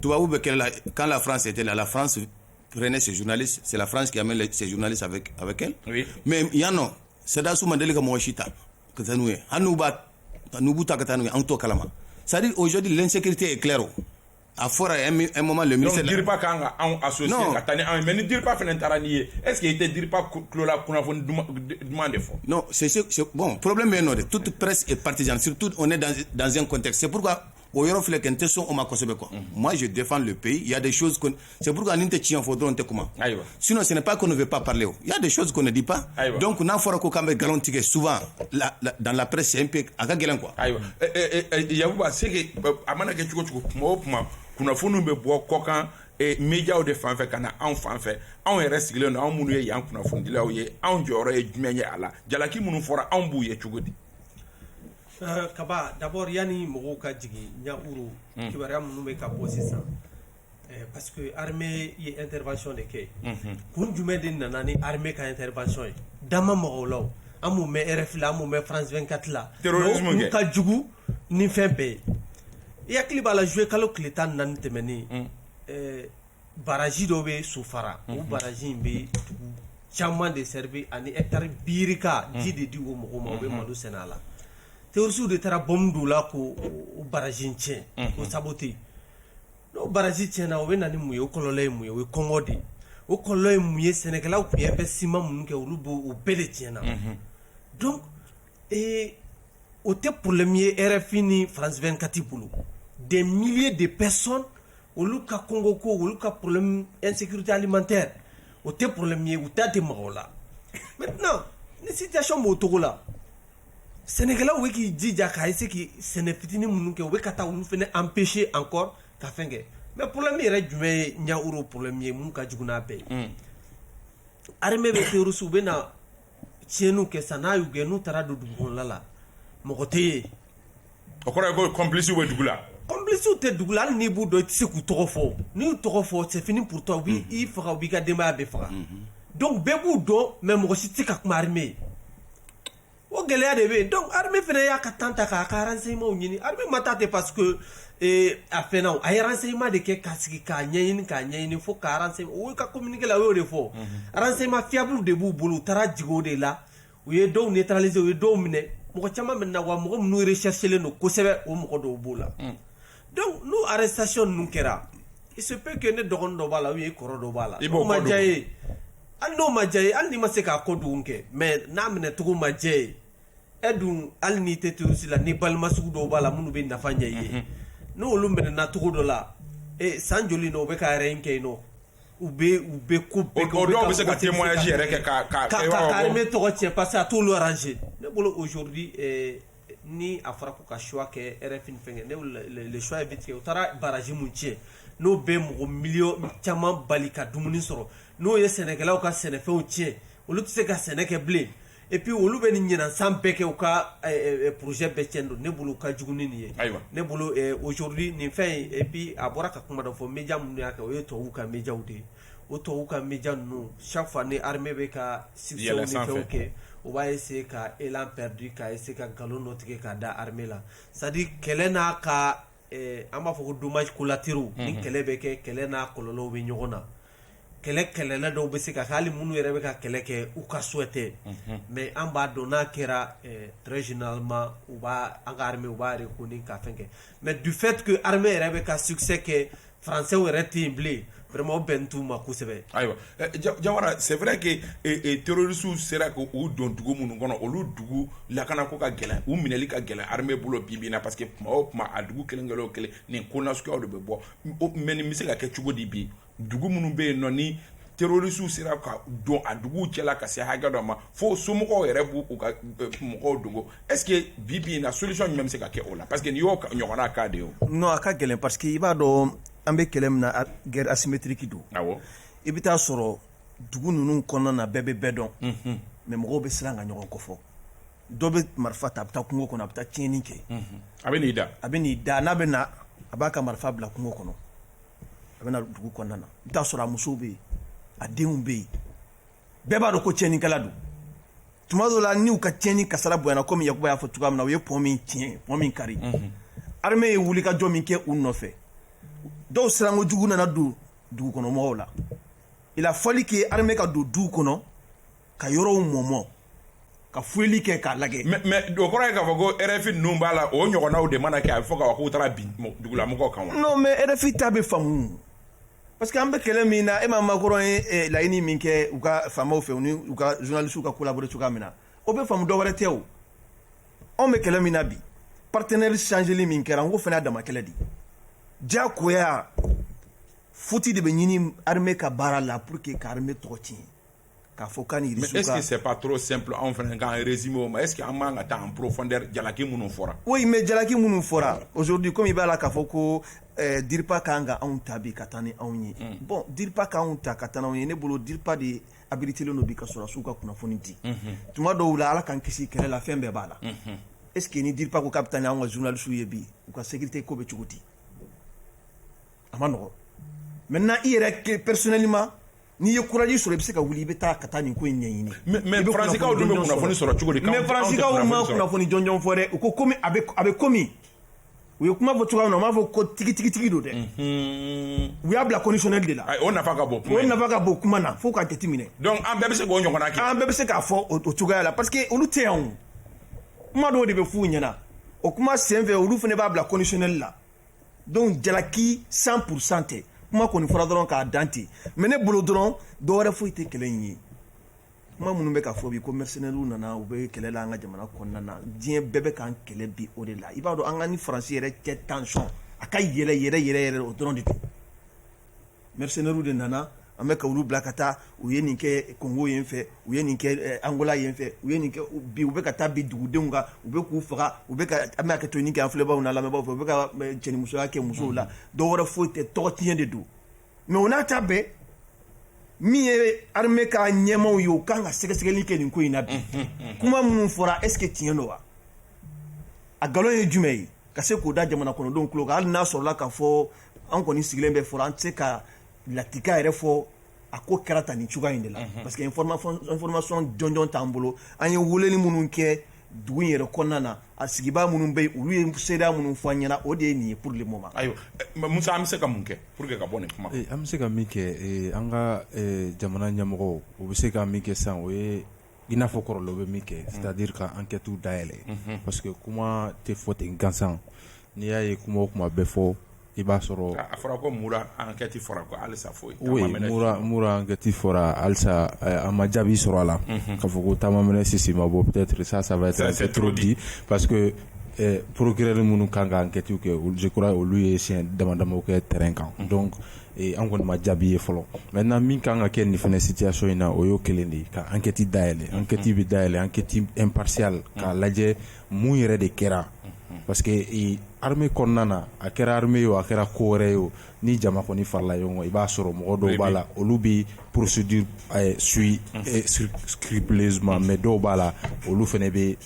tubabu bɛ kɛlɛ la quand la France était là la France prenait ses journalistes c'est la France qui amène les ses journalistes avec avec elle oui. mais yan nɔ sɔrɔdasiw ma deli ka mɔgɔ si ta ka taa n'u ye hali n'u b'a n'u b'u ta ka taa n'u ye an t'o kalama c'est à dire aujourd'hui l'insécurité est claire o a fɔra un, un moment le ministre donc DIRPA kan ka anw associer ka taa ni anw ye mais ni DIRPA fana taara n'i ye est ce que i tɛ DIRPA tulo la kunnafoni duman de fɔ non c'est bon problème bɛ yen nɔ de toute presse est partisane surtout on est dans, dans un contexte c'est pourquoi o yɔrɔ filɛ kɛ n tɛ sɔn o ma kosɛbɛ quoi unhun moi je défends le pays il y a des choses que c'est pourquoi ni n tɛ tiɲɛ fɔ dɔrɔn n tɛ kuma ayiwa sinon ce n'est pas qu'on ne veut pas parler o il y a des choses qu'on ne dit pas ayiwa donc n'a fɔra ko k'an bɛ galon tigɛ souvent la, la, dans la presse c'est un peu a ka gɛlɛn quoi ayiwa eh, eh, eh, eh yakuba c'est que euh, a mana kɛ cogo o cogo tuma o tuma kunnafoniw bɛ bɔ kɔkan eh, mediaw de fan fɛ ka na anw fan fɛ anw yɛrɛ sigilen don anw minnu ye yan kunnafonidilaw ye anw jɔyɔrɔ ye jumɛn ye a la jalaki minnu fɔra anw b'u ye cogo di Kaba d'abord yani mɔgɔw ka jigin ɲaworo kibaruya minnu bɛ ka bɔ sisan parce que armée ye intervention de kɛ kun jumɛn de nana ni armée ka intervention ye dan ma mɔgɔw la an m'u mɛn RFI la an m'u mɛn France 24 la ka jugu ni fɛn bɛɛ ye i hakili b'a la juillet kalo tile tan ni naani tɛmɛnen baraji dɔ bɛ sofara o baraji in bɛ dugu caman de servi ani hectare birika ji de di o mɔgɔw ma o bɛ malo sɛnɛ a la terroristew de taara bɔmu don o la k'o baraji in tiɲɛ k'o saboter n'o baraji tiɲɛna o bɛ na ni mun ye o kɔlɔlɔ ye mun ye o ye kɔngɔ de o kɔlɔlɔ ye mun ye sɛnɛkɛlaw tun ye investissement minnu kɛ olu b'o bɛɛ de tiɲɛna ee o tɛ problème ye RFI ni France 24 bolo des milliers de personnes olu ka kɔngɔko olu ka problème insécurité alimentaire o tɛ problème ye u da tɛ maga o la maintenant ni situation b'o cogo la sɛnɛkɛlaw bɛ k'i jija k'a essayer k'i sɛnɛ fitinin minnu kɛ u bɛ ka taa olu fana empêcher encore ka fɛn kɛ mais problème yɛrɛ jumɛn ye ɲaworo problème ye mun ka jugu n'a bɛɛ ye armée bɛ terroristew bɛ na tiɲɛniw kɛ sa n'a y'u gɛn n'u taara don dugu kɔnɔna la mɔgɔ tɛ ye o kɔrɔ ye ko complicew bɛ dugu la complicew tɛ dugu la hali n'i b'u dɔn i tɛ se k'u tɔgɔ fɔ n'i y'u tɔgɔ fɔ c'est fini pour toi u b'i faga u b'i ka denbaya bɛɛ faga donc bɛɛ b'u dɔn mais mɔgɔ si tɛ se ka kuma armée ye o gɛlɛya de bɛ yen donc armée fana y'a ka temps ta k'a ka renseignements ɲini armée ma taa ten parce que ee a fana a ye renseignement de kɛ ka sigi k'a ɲɛɲini k'a ɲɛɲini fo ka renseignement o y'u ka communiqué la o y'o de fɔ renseignement fiable de b'u bolo u taara jigin o de la u ye dɔw neutraliser u ye dɔw minɛ mɔgɔ caman minɛna wa mɔgɔ minnu recherchelen don kosɛbɛ o mɔgɔ dɔw b'o la donc n'o arrestation ninnu kɛra il se peut que ne dɔgɔnin dɔ b'a la ou bien i kɔrɔ dɔ b'a la I b'o n'o ma kɔ diya i ye hali n'o ma diya i ye hali n'i ma se k'a ko dugun kɛ mais n'a minɛcogo ma diya i ye e dun hali n'i tɛ terroriste la ni balima sugu dɔw b'a la minnu bɛ nafa ɲɛ i ye mhm. n'olu minɛna cogo dɔ la e, san joli na u bɛ ka yɛrɛ in kɛ yen nɔ u bɛ u bɛ ko bɛɛ kɛ o dɔw bɛ se ka témoignage yɛrɛ kɛ ka ka ka ka armée tɔgɔ tiɲɛ parce que a t'olu arranger ne bolo aujourd'hui eh, ni a fɔra ko ka choix kɛ RFI ni fɛnkɛ ne bolo le choix est vite fait u taara barrage mun tiɲɛ n'o bɛ mɔgɔ miliyɔn caman bali ka dumuni sɔrɔ n'o ye sɛnɛkɛlaw ka sɛnɛfɛnw tiɲɛ olu tɛ se ka sɛnɛ kɛ bilen et puis olu bɛ nin ɲinan san bɛɛ kɛ u ka eh, eh, eh, projet bɛɛ cɛn don ne bolo ka jugu ni nin ye Ayiwa. ne bolo eh, aujourd'hui nin fɛn in et puis a bɔra ka kuma dɔ fɔ media minnu y'a kɛ o ye tubabuw ka mediaw de ye o tubabuw ka media ninnu chaque fois ni armée bɛ ka succès Yɛlɛn ni fɛnw sanfɛ. kɛ u b'a essayer ka élan perdu ka essayer ka nkalon dɔ tigɛ k'a da armée la c'est à dire kɛlɛ n'a ka An b'a fɔ ko donbasi kolateruru ni kɛlɛ bɛ kɛ kɛlɛ n'a kɔlɔnlɔw bɛ ɲɔgɔn na kɛlɛ kɛlɛla dɔw bɛ se ka hali minnu yɛrɛ bɛ ka kɛlɛ kɛ u ka so tɛ mɛ an b'a dɔn n'a kɛra zinama u b' an ka u b'a ko ni ka kɛ mɛ dufetigi ha yɛrɛ bɛ ka sukisɛ kɛ Français yɛrɛ tɛ yen bilen vraiment o bɛnnen t'u ma kosɛbɛ ayiwa Jawara c'est vrai que terroristew sera k' u don dugu minnu kɔnɔ olu dugu lakana ko ka gɛlɛn u minɛli ka gɛlɛn armée bolo bi bi in na parce que tuma o tuma a dugu kelen kelen o kelen nin ko nasuguyaw de bɛ bɔ mais nin bɛ se ka kɛ cogo di bi dugu minnu bɛ yen nɔ ni terroristew sera ka don a dugu cɛla ka se hakɛ dɔ ma fo somɔgɔw yɛrɛ b' u ka mɔgɔw dogo est-ce que bi bi in na solution jumɛn bɛ se ka kɛ o la parce que nin y'o ɲɔgɔnna cas de ye o. non a ka gɛlɛn parce que i b'a dɔn an bɛ kɛlɛ min na guerre asymétrique don. awɔ. i bɛ taa sɔrɔ dugu ninnu kɔnɔna na bɛɛ bɛ bɛɛ dɔn. unhun. mais mɔgɔw bɛ siran ka ɲɔgɔn kofɔ. dɔ bɛ marifa ta a bɛ taa kungo kɔnɔ a bɛ taa tiɲɛni kɛ. unhun a bɛ n'i da. a bɛ n'i da n'a bɛ na a b'a ka marifa bila kungo kɔnɔ a bɛ na dugu kɔnɔna na i bɛ taa sɔrɔ a musow bɛ yen a denw bɛ yen bɛɛ b'a dɔn ko tiɲɛnikɛla don. tuma dɔw la n'u ka tiɲɛni kasara bonyana komi Yakuba y'a fɔ cogoya min na u ye pɔn min tiɲɛ pɔn min kari mhm. armée ye wulikajɔ min kɛ u nɔfɛ dɔw siranko jugu nana don dugukɔnɔmɔgɔw la il a fallu que armée ka don duw kɔnɔ ka yɔrɔw mɔmɔ ka fuyeli kɛ k'a lagɛ mais o kɔrɔ ye k'a fɔ ko RFI ninnu b'a la o ɲɔgɔnnaw de mana kɛ a bɛ fɔ k'a fɔ k'u taara bin dugulamɔgɔw kan wa non mais RFI ta bɛ faamu Parce que an bɛ kɛlɛ min na e ma Macron ye eh, laɲini min kɛ u ka faamaw fɛ u ni u ka journaliste ka collaborer cogoya min na o bɛ faamu dɔwɛrɛ tɛ o anw bɛ kɛlɛ min na bi partenaire changeli min kɛra n ko fana dama kɛlɛ de diyagoya futi de bɛ ɲini armée ka baara la pour que ka armée tɔgɔ tiɲɛ k'a fɔ k'a ni Russie ka mais est ce que c'est pas trop simple anw fana k'an résumer o ma est ce que an man ka taa en profondeur jalaki minnu fɔra oui mais jalaki minnu fɔra aujourd'hui comme i b'a la k'a fɔ ko eh, DIRPA ka kan ka anw ta bi ka taa ni anw ye mm. bon DIRPA ka anw ta ka taa n'anw ye ne bolo DIRPA de habilitelen don bi ka sɔrɔdasiw ka kunnafoni di mm-hmm. tuma dɔw la ala k'an kisi kɛlɛ la fɛn bɛɛ b'a la mm-hmm. est ce que ni DIRPA ko k'a bɛ taa ni anw ka journalistes ye bi u ka sécurité ko bɛ cogo di a man nɔgɔn maintenant i yɛrɛ personnellement n'i ye courage sɔrɔ i bɛ se ka wuli i bɛ taa ka taa nin ko in ɲɛɲini mais faransikaw dun bɛ kunnafoni sɔrɔ cogo di mais faransikaw ma kunnafoni jɔnjɔn fɔ dɛ u ko komi a bɛ komi u ye kuma fɔ cogoya min na u m'a fɔ ko tigitigitigi don dɛ u y'a bila conditionnel de la o nafa ka bon o nafa ka bon kuma na fo k'a jateminɛ donc an bɛɛ bɛ se k'o ɲɔgɔn kɛ an bɛɛ bɛ se k'a fɔ o cogoya la parce que olu tɛ yan kuma dɔw de bɛ f'u ɲɛna o kuma senfɛ olu fana b'a bila conditionnel la donc jalaki 100 pourcent tɛ kuma kɔni fɔra dɔrɔn k'a dan ten mais ne bolo dɔrɔn dɔ wɛrɛ foyi tɛ kɛlɛ in ye kuma minnu bɛ ka fɔ bi ko mercenaires nana u bɛ kɛlɛ la an ka jamana kɔnɔna na diɲɛ bɛɛ bɛ k'an kɛlɛ bi o de la i b'a dɔn an ka ni faransi yɛrɛ cɛ tension a ka yɛlɛ yɛrɛ yɛrɛ yɛrɛ o dɔrɔn de don mercenaires de nana an bɛ ka olu bila ka taa u ye nin kɛ Congo yen fɛ u ye nin kɛ Angola yen fɛ u ye bi u bɛ ka taa bin dugudenw kan u bɛ k'u faga u bɛ ka an bɛ hakɛtoɲini kɛ an filɛbaw n'an lamɛnbagaw fɛ u bɛ ka cɛnimusoya kɛ musow la dɔ wɛrɛ foyi tɛ tɔgɔ tiɲɛ de don mais o n'a ta bɛɛ min ye armée ka ɲɛmaw ye u kan ka sɛgɛsɛgɛli kɛ nin ko in na bi kuma minnu fɔra est ce que tiɲɛ don wa a nkalon ye jumɛn ye ka se k'o da jamana kɔnɔdenw tulo kan hali n'a sɔrɔla k'a fɔ an kɔni sigilen bɛ fɔlɔ an tɛ se ka latika yɛrɛ fɔ a ko kɛra tan nin cogoya in de la parce que information jɔnjɔn t'an bolo an ye weleli minnu kɛ dugu in yɛrɛ kɔnɔna na a sigibaa minnu bɛ yen olu ye seereya minnu fɔ an ɲɛna o de ye nin ye pour le moment ayiwa Musa an bɛ se ka mun kɛ pour que ka bɔ nin kuma an bɛ se ka min kɛ an ka jamana ɲɛmɔgɔw bɛ se ka min kɛ sisan o ye i n'a fɔ kɔrɔlen u bɛ min kɛ c'est à dire ka enquête dayɛlɛ parce que kuma tɛ fɔ ten gansan n'i y'a ye kuma o kuma bɛ fɔ i b'a sɔrɔ a fɔra ko Mura enquête fɔra halisa foyi Mura enquête fɔra halisa a ma jaabi sɔrɔ a la k'a fɔ ko ta ma mɛnɛ sisi ma bɔ peut être ça va être trop dit parce que procureurs minnu kan ka enquête kɛ je crois olu ye siɲɛ damadama kɛ terrain kan an kɔni ma jaabi ye fɔlɔ maintenant min ka kan ka kɛ nin fɛnɛ situation in na o y'o kelen de ye ka enquête dayɛlɛ enquête bɛ dayɛlɛ enquête impartiale k'a lajɛ mun yɛrɛ de kɛra parce que armée kɔnɔna na a kɛra armée ye o a kɛra ko wɛrɛ ye o ni jama kɔni farala ɲɔgɔn kan i b'a sɔrɔ mɔgɔ dɔw b'a la olu bɛ procédure suivre scrupuleusement mais dɔw b'a la olu fɛnɛ bɛ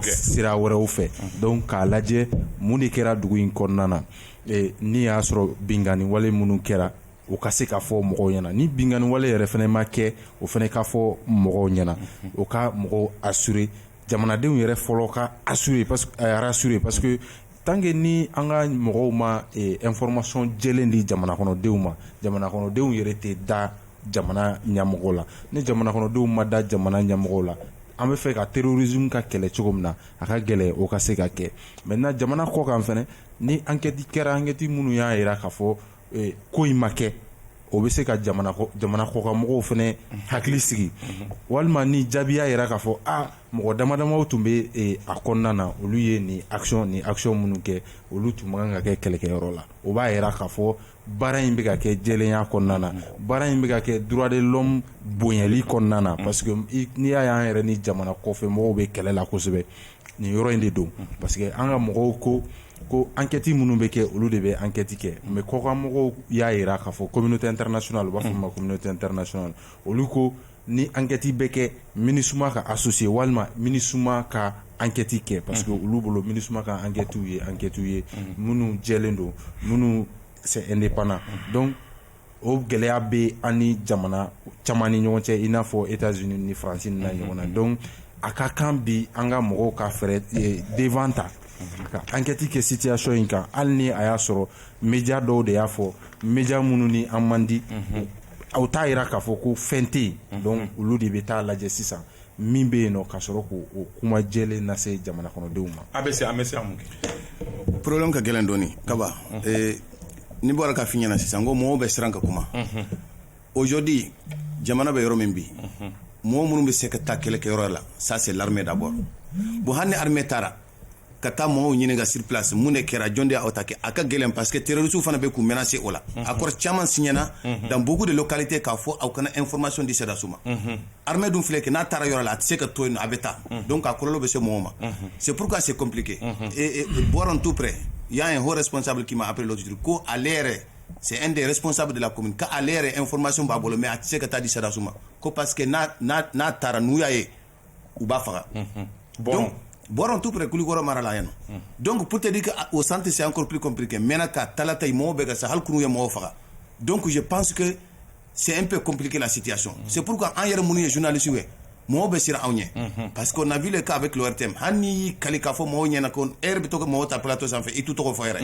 sira wɛrɛw fɛ donc k'a lajɛ mun de kɛra dugu in kɔnɔna na n'i y'a sɔrɔ binkanni wale minnu kɛra o ka se ka fɔ mɔgɔw ɲɛna ni binkanni wale yɛrɛ fana ma kɛ o fana ka fɔ mɔgɔw ɲɛna o ka mɔgɔw assurer jamanadenw yɛrɛ fɔlɔ ka rassurer parce que tant que ni an ka mɔgɔw ma information jɛlen di jamana kɔnɔdenw ma jamana kɔnɔdenw yɛrɛ tɛ da jamana ɲamɔgɔ la ni jamana kɔnɔdenw ma da jamana ɲamɔgɔ la an bɛ fɛ ka terrorisme ka kɛlɛ cogo min na a ka gɛlɛn o ka se ka kɛ maintenant jamana kɔ kan fana ni enquête kɛra enquête minnu y'a jira k'a fɔ ko in ma kɛ o bɛ se ka jamana kɔkan mɔgɔw fana hakili sigi walima ni jaabi y'a jira k'a fɔ aa mɔgɔ damadamaw tun bɛ a kɔnɔna na olu ye nin action nin action minnu kɛ olu tun man kan ka kɛ kɛlɛkɛyɔrɔ la o b'a jira k'a fɔ baara in bɛ ka kɛ jɛlenya kɔnɔna na baara in bɛ ka kɛ droit de l'homme bonyali kɔnɔna na parce que n'i y'a ye an yɛrɛ ni jamana kɔfɛ mɔgɔw bɛ kɛlɛ la kosɛbɛ nin yɔrɔ in de don parce que an ka mɔgɔw ko ko enquête minnu bɛ kɛ olu de bɛ enquête kɛ mais kɔkanmɔgɔw y'a jira k'a fɔ communauté internationale u b'a fɔ min ma communauté internationale olu ko ni enquête bɛ kɛ MINUSMA ka associer walima MINUSMA ka enquête kɛ parce que olu bolo MINUSMA ka enquêtew ye enquêtew ye minnu jɛlen don minnu c'est indépendant donc o gɛlɛya bɛ an ni jamana caman ni ɲɔgɔn cɛ i n'a fɔ États-Unis France n'a ɲɔgɔnna donc a ka kan bi an ka mɔgɔw ka fɛ devant ta ka enquête kɛ situation in kan hali ni a y'a sɔrɔ média dɔw de y'a fɔ média minnu ni an man di aw t'a jira k'a fɔ ko fɛn tɛ yen donc olu de bɛ taa lajɛ sisan min bɛ yen ka sɔrɔ k'o kuma jɛlen lase jamana kɔnɔdenw ma a bɛ se an bɛ se kɛ problème ka gɛlɛn dɔɔnin Kaba ni bɔra k'a fɔ i ɲɛna sisan ko mɔgɔw bɛ siran ka kuma aujourd'hui jamana bɛ yɔrɔ min bi mɔgɔ minnu bɛ se ka taa kɛlɛkɛyɔrɔ la ça c'est l'armée d'abord bon hali ni armée taara ka taa mɔgɔw ɲininka sur place mun de kɛra jɔn de y'a attaquer a ka gɛlɛn parce que terroristes fana bɛ k'u menacer o la accord caman signé na dans beaucoup de localités k'a fɔ aw kana information di sɔrɔdasiw ma armée dun filɛ kɛ n'a taara yɔrɔ la a tɛ se ka to yen a bɛ taa donc a kɔlɔlɔ bɛ se mɔgɔw ma c'est pourquoi c'est compliqué et Boron tout près il y a un haut responsable qui m'a appelé l'autre jour ko ale yɛrɛ c'est un des responsables de la commune k'ale yɛrɛ information b'a bolo mais a tɛ se ka taa di sɔrɔdasiw ma ko parce que n'a taara n'u y'a ye u b'a faga bɔn tu kulukɔrɔ mara la yan don ptedi o san tɛ se an ppkp kɛ mɛn ka tala ta mɔgɔw bɛ ka sa hali ye mɔgɔw faga don tun ye panske sɛ pe copki la siya sɔn seuru kan an yɛrɛ minnu ye zvinalisiw ye mɔgɔw bɛ siran anw ɲɛ pa que nabi k'a bɛ kiloɛre tɛ hali n y'i ka k'a fɔ mɔgɔw ɲɛna ko e bɛ to mɔgɔw ta ptɔ sanfɛ i tu tɔgɔ fɔ yɛrɛ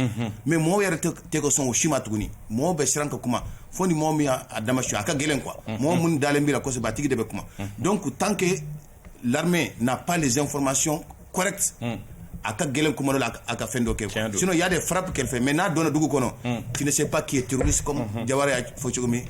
mɛ mɔgɔw yɛrɛ tɛ sɔn o si ma tuguni mɔgɔw bɛ siran ka kuma fo ni mɔgɔ min a dama a ka gɛlɛn kuwa mɔgɔ minnu dalen bɛ kɔsɛbɛ a tigi de bɛ kuma dɔn ko tanke la na pan de fmasiyɔn kɔrɛti a ka gɛlɛn kuma la a ka fɛn dɔ kɛ fɛn y'a de fara kɛrɛfɛ mɛ n'a dɔn dugu kɔnɔ ti se pa k'i ye terisi jawara y'a fɔ cogo min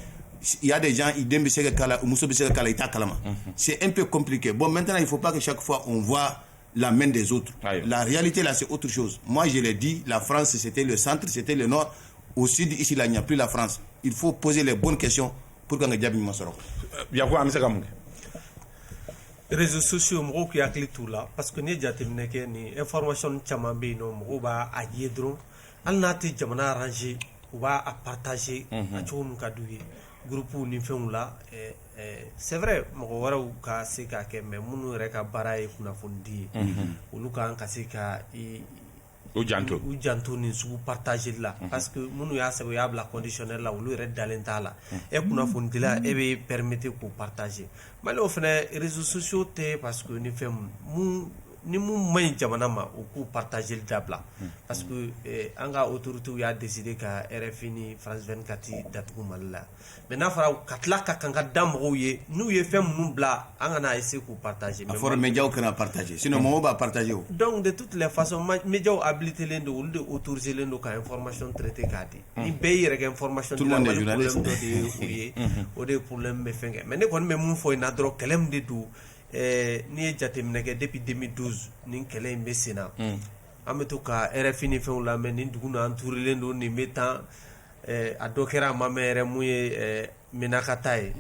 ya de jan i den bɛ se ka kala muso bɛ se ka kala i ta kalama se ep copli kɛ bɔn mɛt y'i fɔ paki sa fɔ n faa la main des autres ayiwa la réalité là c'est autre chose moi je l'ai dit la France c'était le centre c'était le nord au sud ici là il n'y a plus la France il faut poser les bonnes questions pour qu'an ka jaabi ɲuman sɔrɔ yakuba an bɛ se ka mun kɛ réseaux sociaux mɔgɔw k'i hakili t'u la parce que n'i ye jateminɛ kɛ nin information caman bɛ yen nɔ mɔgɔw b'a a ye dɔrɔn hali n'a tɛ jamana arranger u b'a a partager a cogo min ka d'u ye groupe ni fɛnw la eh, c'est vrai mɔgɔ wɛrɛw ka se k'a kɛ mais minnu yɛrɛ ka baara ye kunnafonidi ye olu ka kan ka se ka u jan u janto nin sugu partagéli la parce que minnu y'a sɛbɛn u y'a bila conditionnel la olu yɛrɛ dalen t'a la e kunnafonidila e bɛ permettre k'u partager mali o fana réseaux sociaux tɛ parce que ni fɛn ni minnu man ɲi jamana ma u k'u partagéli dabila parce que an ka autorités y'a décidé ka RFI ni France 24 datugu mali la mais n'a fɔra ka tila ka kankari da mɔgɔw ye n'u ye fɛn minnu bila an kana essayer k'u partager a fɔra médiaw kan'a partager sinon mɔgɔw b'a partager o donc de toutes les façons médiaw habilitélen don olu de autorisélen don ka information traiter k'a di ni bɛɛ yɛrɛ kɛ information de ye o de ye problème bɛ fɛn kɛ mais ne kɔni bɛ min fɔ in na dɔrɔn kɛlɛ min de don n'i ye jateminɛ kɛ depuis 2012 nin kɛlɛ in bɛ sen na an bɛ to ka RFI ni fɛnw lamɛn nin dugu entourélen don nin bɛ tan a dɔ kɛra a ma mɛn yɛrɛ min ye Menaka ta ye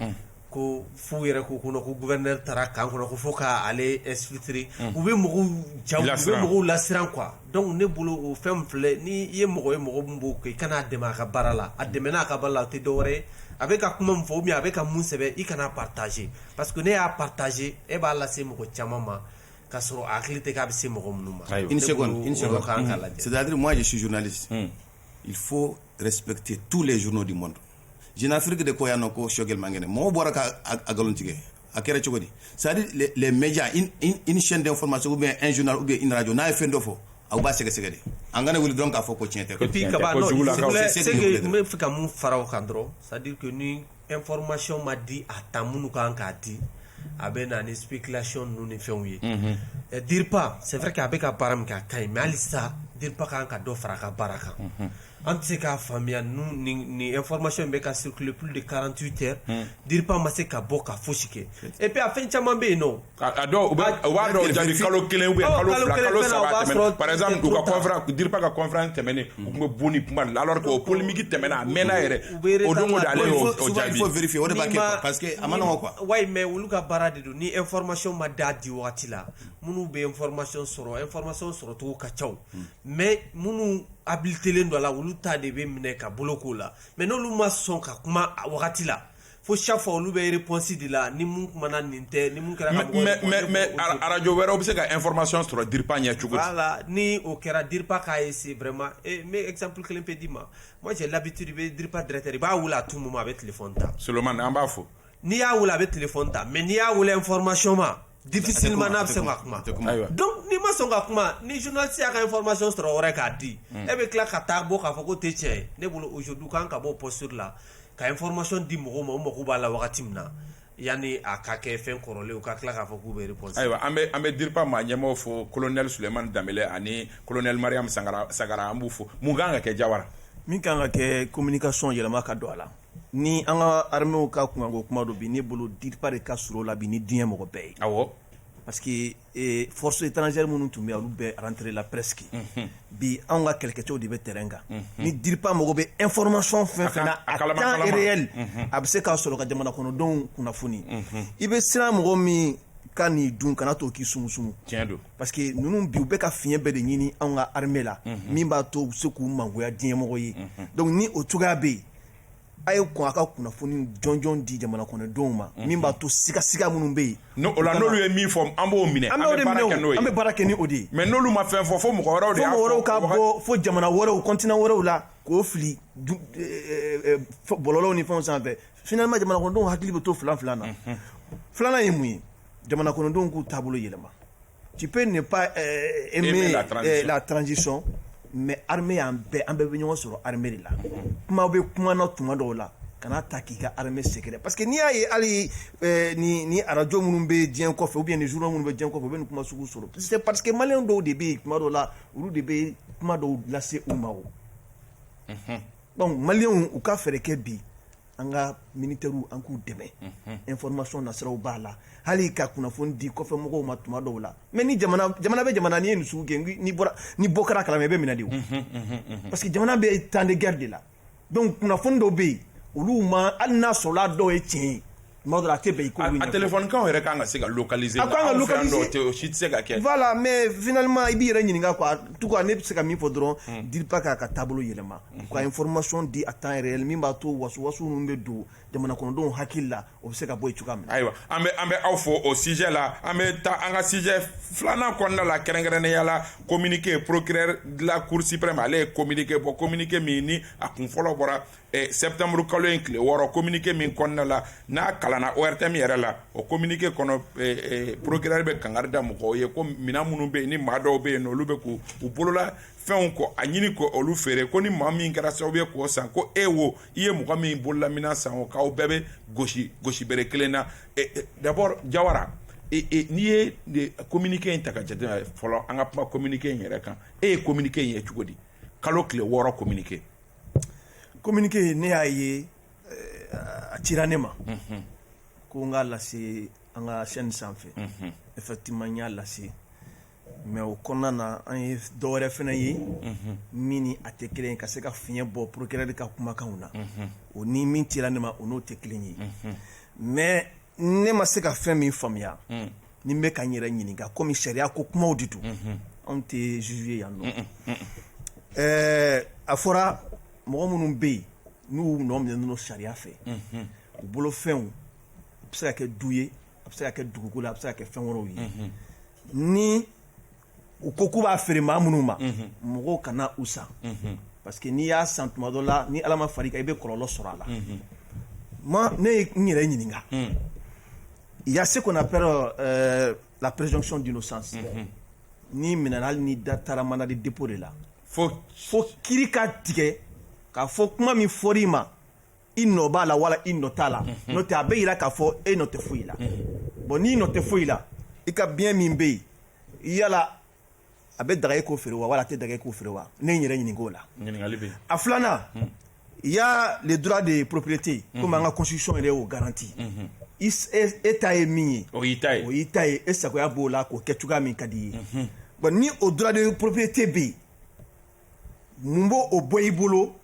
ko fo yɛrɛ ko ko ko gouverneur taara camp kɔnɔ ko fo k'ale exfiltrer u bɛ mɔgɔw lasiran quoi donc ne bolo o fɛn filɛ n'i ye mɔgɔ ye mɔgɔ min b'o kɛ i kan'a dɛmɛ a ka baara la a dɛmɛn a ka baara la a tɛ dɔwɛrɛ ye a bɛ ka kuma min fɔ ou bien a bɛ ka mun sɛbɛn i kan'a partager parce que n'e y'a partager e b'a lase mɔgɔ caman ma k'a sɔrɔ a hakili tɛ k'a bɛ se mɔgɔ minnu ma une seconde c'est-à-dire moi je suis journaliste il faut respecter tous les journaux du monde jeune afrique de ko yan nɔ ko Choguel man kɛnɛ mɔgɔw bɔra ka a ngalontigiya a kɛra cogo di c'est à dire les, les médias une, une, une chaîne d'information ou bien un journal ou bien une radio n'a ye fɛn dɔ fɔ aw b'a sɛgɛsɛgɛ de an kana wuli dɔrɔn k'a fɔ ko tiɲɛ tɛ et puis k'a ban non c'est que n bɛ fɛ ka mun fara o kan dɔrɔn c'est à dire que ni information ma di à temps minnu ka kan k'a di a bɛ na ni spéculation ninnu ni fɛnw ye, unhun, DIRPA c'est vrai que a bɛ ka baara min kɛ a ka ɲi mais halisa DIRPA ka kan ka dɔ fara a ka baara kan, unhun, an tɛ se k'a faamuya ninnu nin nin information in bɛ ka circuler plus de 48 heures DIRPA ma se ka bɔ ka fosi kɛ et puis a fɛn caman bɛ yen nɔ a dɔw u b'a dɔw jaabi kalo kelen ou bien kalo fila kalo saba a tɛmɛna par exemple u ka conférence DIRPA ka conférence tɛmɛnen u tun bɛ bɔ ni kuma de la alors que o polémique tɛmɛna a mɛnna yɛrɛ o don o don ale y'o o jaabi il faut vérifier o de b'a kɛ quoi parce que a ma nɔgɔn quoi ouais mais olu ka baara de don ni information ma d'a di wagati la minnu bɛ information sɔrɔ information sɔrɔcogo ka ca mais minnu habilitelen don a la olu ta de bɛ minɛ ka bolo k'o la mais n'olu ma sɔn ka kuma a wagati la fo chaque fois olu bɛ réponse de la ni mun kumana nin tɛ ni mun kɛra ka mɔgɔ mais mais mais arajo wɛrɛw bɛ se ka information sɔrɔ DIRPA ɲɛ cogo di voilà ni o kɛra DIRPA k'a essayer vraiment et n bɛ exemple kelen pe d'i ma moi j'ai l'habitude i bɛ DIRPA directeur i b'a wele à tout moment a bɛ téléphone ta Solomani an b'a fo n'i y'a wele a bɛ téléphone ta mais n'i y'a wele information ma Difficilement n'a bɛ se ka kuma donc n'i ma sɔn ka kuma ni journaliste y'a ka information sɔrɔ yɔrɔ wɛrɛ k'a di e bɛ tila ka taa bɔ k'a fɔ k'o tɛ tiɲɛ ye ne bolo aujourd'hui u kan ka bɔ posture la ka information di mɔgɔw ma o mako b'a la wagati min na yani a ka kɛ fɛn kɔrɔlen u ka tila k'a fɔ k'u bɛ réponse ayiwa an bɛ an bɛ DIRPA maa ɲɛmɔgɔw fo colonel Sulemani Danbele ani colonel Mariam Sagara an b'u fo mun kan ka kɛ Jawara min ka kan ka kɛ communication yɛlɛma ka don a la Ni an ka armée ka kunkanko kuma don bi ne bolo DIRPA de ka surun o la bi ni diɲɛ mɔgɔ bɛɛ ye parce que forces étrangères minnu tun bɛ olu bɛɛ rentré la presque bi an ka kɛlɛkɛcɛw de bɛ terrain kan ni DIRPA mago bɛ information fɛn fɛn na à temps réel a bɛ se k'a sɔrɔ ka jamana kɔnɔdenw kunnafoni i bɛ siran mɔgɔ min ka nin dun kana to k'i sumu sumu tiɲɛ don parce que ninnu bi u bɛ ka fiɲɛ bɛɛ de ɲini an ka armée la min b'a to u bɛ se k'u mangoya diɲɛmɔgɔ ye donc ni o cogoya bɛ yen a ye kɔn a ka kunnafoni jɔnjɔn di jamana kɔnɔdenw ma mhm. min b'a to sigasiga minnu bɛ yen n'olu ye min fɔ an b'o minɛ an bɛ baara kɛ n'o ye an bɛ baara kɛ ni o de ye mais n'olu ma fɛn fɔ fo mɔgɔ wɛrɛw de y'a fɔ mɔgɔ wɛrɛw ka bɔ fo jamana wɛrɛw continent wɛrɛw la k'o fili eh, eh, eh, bɔlɔlɔw ni fɛnw sanfɛ finalement jamana kɔnɔdenw hakili bɛ to filan filan na mhm. filanan ye mun ye jamana kɔnɔdenw k'u taabolo yɛlɛma Tu peux ne pas aimer la transition mais armée an bɛɛ an bɛɛ bɛ ɲɔgɔn sɔrɔ armée de la kuma bɛ kuma na tuma dɔw la kana taa k'i ka armée sɛgɛrɛ parce que n'i y'a ye hali ni arajo minnu bɛ diɲɛ kɔfɛ ou bien ni journaux minnu bɛ diɲɛ kɔfɛ u bɛ nin kuma sugu sɔrɔ c'est parce que malien dɔw de bɛ yen tuma dɔw la olu de bɛ kuma dɔw lase u ma donc maliens u ka fɛɛrɛ kɛ bi an ka mini terirw an k'u dɛmɛ e fmasɔn nasiraraw b'a la hali ka kunnafoni di kɔfɛ mɔgɔw ma tuma dɔw la mɛ ni jamana bɛ jamana ni ye misi gɛn ni bɔ kɛra kala i bɛ minɛ de parce que jamana bɛ tan ni gari de la don kunnafoni dɔw bɛ yen olu ma hali n'a sɔrɔ dɔw ye tiɲɛ ye tuma a tɛ yen kakaw yɛrɛ ka kan ka se ka kaz se ka kɛ mɛ vma i bɛ yɛrɛ ɲininka tu ne bɛ se ka min fɔ dɔrɔn di k'a ka taabolo yɛlɛma ka information di à temps réel min b'a to wasuwasu minnu bɛ don jamana kɔnɔdenw hakili la o bɛ se ka bɔ yen cogoya min na ayiwa an bɛ an bɛ aw fo o sujet la an bɛ taa an ka sujet filanan kɔnɔna la kɛrɛnkɛrɛnnenya la communiqué procureur de la cour suprême ale ye communiqué bɔ communiqué min ni a kun fɔlɔ bɔra septembre kalo in tile wɔɔrɔ communiqué min kɔnɔna la n'a kalanna ORTM yɛrɛ la o communiqué kɔnɔ procureur bɛ kangari da mɔgɔw ye ko minɛn minnu bɛ yen ni maa dɔw bɛ yen olu bɛ k' u bolola fɛnw kɔ a ɲini ko olu feere ko ni maa min kɛra sababu ye k'o san ko e wo i ye mɔgɔ min bolola minɛn san o k'aw bɛɛ bɛ gosi gosi bere kelen na e, e, d'abord jawara e, n'i ye communiqué in ta ka jateminɛ fɔlɔ an ka kuma communiqué in yɛrɛ kan e ye communiqué in ye cogo di kalo tile wɔɔrɔ communiqué communiqué ne y'a ye a cira ne ma mhm. ko n k'a lase an ka chaîne sanfɛ mhm. effectivement n y'a lase mais o kɔnɔna na an ye dɔ wɛrɛ fana ye min ni a tɛ kelen ye ka se ka fiɲɛ bɔ procureur ka kumakanw na o ni min cira ne ma o n'o tɛ kelen ye mais ne ma se ka fɛn min faamuya ni n bɛ ka n yɛrɛ ɲininka kɔmi sariya ko kumaw de don anw tɛ juge ye yan nɔ ɛɛ a fɔra mɔgɔ minnu bɛ yen n'u nɔ minɛnen don sariya fɛ u bolo fɛnw a bɛ se ka kɛ du ye a bɛ se ka kɛ dugukolo a bɛ se ka kɛ fɛn wɛrɛw ye ni u ko k'u b'a feere maa minnu ma mɔgɔw kana u san parce que n'i y'a san tuma dɔ la ni ala ma far'i kan i bɛ kɔlɔlɔ sɔrɔ a la mais ne ye n yɛrɛ ɲininka il y a ce qu'on appelle euh, la présomption d'innocence n'i minɛna hali n'i da taara mandat de dépôt de la fo fo kiiri ka tigɛ k'a fɔ kuma min fɔr'i ma i nɔ b'a la wala i nɔ t'a la mhm. n'o tɛ a bɛ yira k'a fɔ e nɔ tɛ foyi la mhm. bon n'i nɔ tɛ foyi la i ka bien min bɛ yen yala a bɛ daga e k'o feere wa wala a tɛ daga e k'o feere wa ne ye n yɛrɛ ɲininka o la a filanan mhm. il y a le droit de propriété comme an ka constitution yɛrɛ y'o garanti e, e ta ye min ye o y'i ta ye o y'i ta ye e sagoya b'o la k'o kɛ cogoya min ka d'i ye bon ni o droit de propriété bɛ yen mun b'o o bɔ i bolo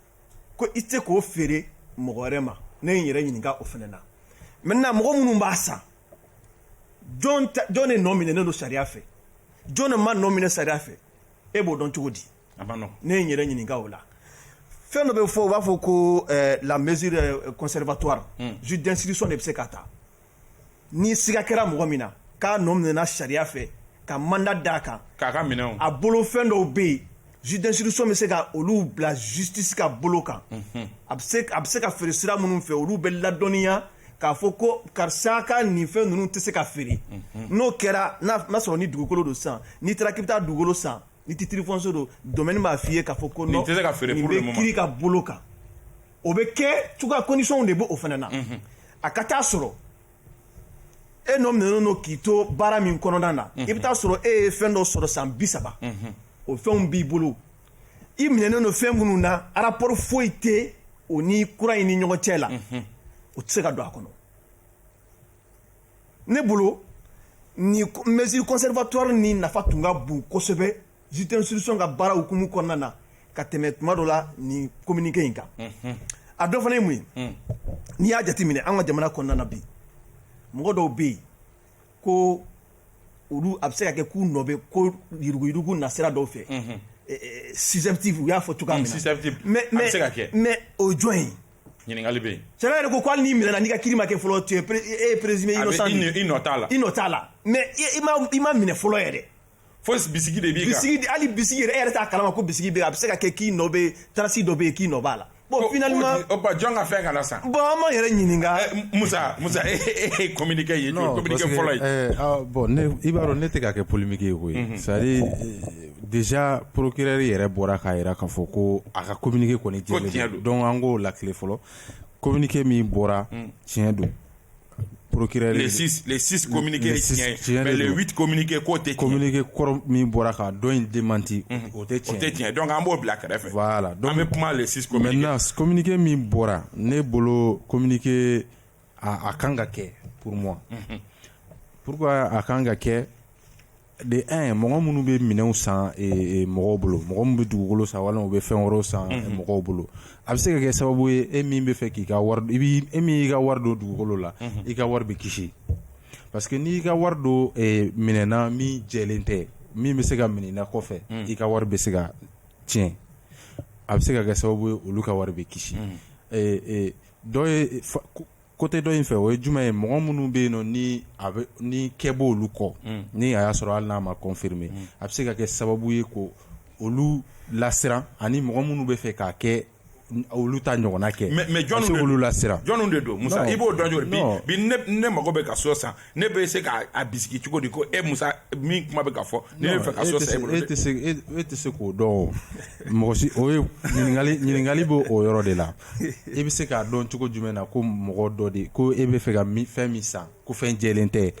ko i tɛ k'o feere mɔgɔ wɛrɛ ma ne ye n yɛrɛ ɲininka o fana na maintenant mɔgɔ minnu b'a san jɔn jɔn de nɔ minɛnen don sariya fɛ jɔn de ma nɔ minɛ sariya fɛ e b'o dɔn cogo di ne ye n yɛrɛ ɲininka o la fɛn dɔ bɛ fɔ u b'a fɔ ko eh, la mesure eh, conservatoire hmm. juge d'instruction de bɛ se ka ta n'i siga kɛra mɔgɔ min na k'a nɔ minɛna sariya fɛ ka mandat d'a kan k'a ka minɛnw a bolo fɛn dɔw bɛ yen juge d'instruction bɛ se ka olu bila justice ka bolo kan mhm. a bɛ se a bɛ se ka feere sira minnu fɛ olu bɛ ladɔnniya k'a fɔ ko karisa ka nin fɛn ninnu tɛ se ka feere mhm. n'o kɛra n'a n'a sɔrɔ ni dugukolo don san n'i taara k'i bɛ taa dugukolo san ni titre foncier don domaine b'a f'i ye k'a fɔ ko nin tɛ se ka feere nin bɛ kiri ka bolo kan. o bɛ kɛ cogoya conditionw de b'o fana na a ka taa sɔrɔ e nɔ minɛnen don k'i to baara min kɔnɔna na i bɛ taa sɔrɔ e ye fɛn dɔ sɔrɔ san bi saba o fɛnw b'i bolo i minɛnen don fɛn minnu na rapport foyi tɛ o ni kura in ni ɲɔgɔn cɛ la o tɛ se ka don a kɔnɔ ne bolo ni mesure conservatoire ni nafa tun ka bon kosɛbɛ juge d'instruction ka baara hukumu kɔnɔna na ka tɛmɛ tuma dɔ la nin communiqué in kan a dɔ fana ye mun ye n'i y'a jateminɛ an ka jamana kɔnɔna na bi mɔgɔ dɔw bɛ yen ko olu a bɛ se ka kɛ k'u nɔ bɛ ko yuruguyurugu nasira dɔw fɛ susceptible u y'a fɔ cogoya min na mais o ye jɔn ye ɲininkali bɛ yen sariya yɛrɛ ko ko hali n'i minɛna n'i ka kiri ma kɛ fɔlɔ tu es pré- e ye présumé a bɛ innocent i de ye. nɔ- i nɔ t'a la i nɔ t'a la mais i- i ma i ma minɛ fɔlɔ yɛrɛ fo bisigi de b'i kan bisigi de- hali bisigi yɛrɛ e yɛrɛ t'a kalama ko bisigi bɛ yen, a bɛ se ka kɛ k'i nɔ bɛ tarasi dɔ bɛ yen k'i nɔ b'a la bon O- finalement o- o ba jɔn ka fɛn kana san bon an m'an yɛrɛ ɲininka Eh, musa musa e e- e ye communiqué ye Non, communiqué parce que, fɔlɔ ye eh, ah, bon ne i b'a dɔn ne tɛ ka kɛ polémique ye koyi c'est à dire eh, dezja porourkɛri yɛrɛ bɔra k'a jira k'a fɔ ko a ka kɔmimuni kɔni cɛn don an k'o la tile fɔlɔ kominike min bɔra tiɲɛ don porourkɛminike tɛ kominike kɔrɔ min bɔra ka dɔn in den mante o tɛ cɛn tɛ tiɲɛ dɔn an b'o bila kɛrɛfɛ a la dɔn bɛ kuma minike min bɔra ne bolo kominike aaa a ka kan ka kɛ pour moi pourquoi a ka kan ka kɛ de un mɔgɔ minnu bɛ minɛnw san mɔgɔw bolo mɔgɔ minnu bɛ dugukolo san walima u bɛ fɛn wɛrɛ san mɔgɔw bolo a bɛ se ka kɛ sababu ye e min bɛ fɛ k'i ka e min y'i ka wari don dugukolo la i ka wari bɛ kisi parce que n'i y'i ka wari don minɛn na min jɛlen tɛ min bɛ se ka minɛ kɔfɛ i ka wari bɛ se ka tiɲɛ a bɛ se ka kɛ sababu ye olu ka wari bɛ kisi côté dɔ in fɛ o ye jumɛn ye mɔgɔ minnu bɛ yen ni enquête b'olu kɔ ni a y'a sɔrɔ hali n'a ma confirmé a bɛ se ka kɛ sababu ye ko olu lasiran ani mɔgɔ minnu bɛ fɛ k'a kɛ olu ta ɲɔgɔnna kɛ mais mais jɔn olu lasiran jɔn de don musa i b'o dɔn jɔ bi ne mako bɛ ka so san ne bɛ se k'a a bisigi cogo di ko e musa min kuma bɛ ka fɔ ne bɛ fɛ ka so san e bolo e tɛ se e e tɛ se k'o dɔn o mɔgɔ si o ye ɲininkali ɲininkali b'o o yɔrɔ de la e bɛ se k'a dɔn cogo jumɛn na ko mɔgɔ dɔ de ko e bɛ fɛ ka mi- fɛn min san ko fɛn jɛlen tɛ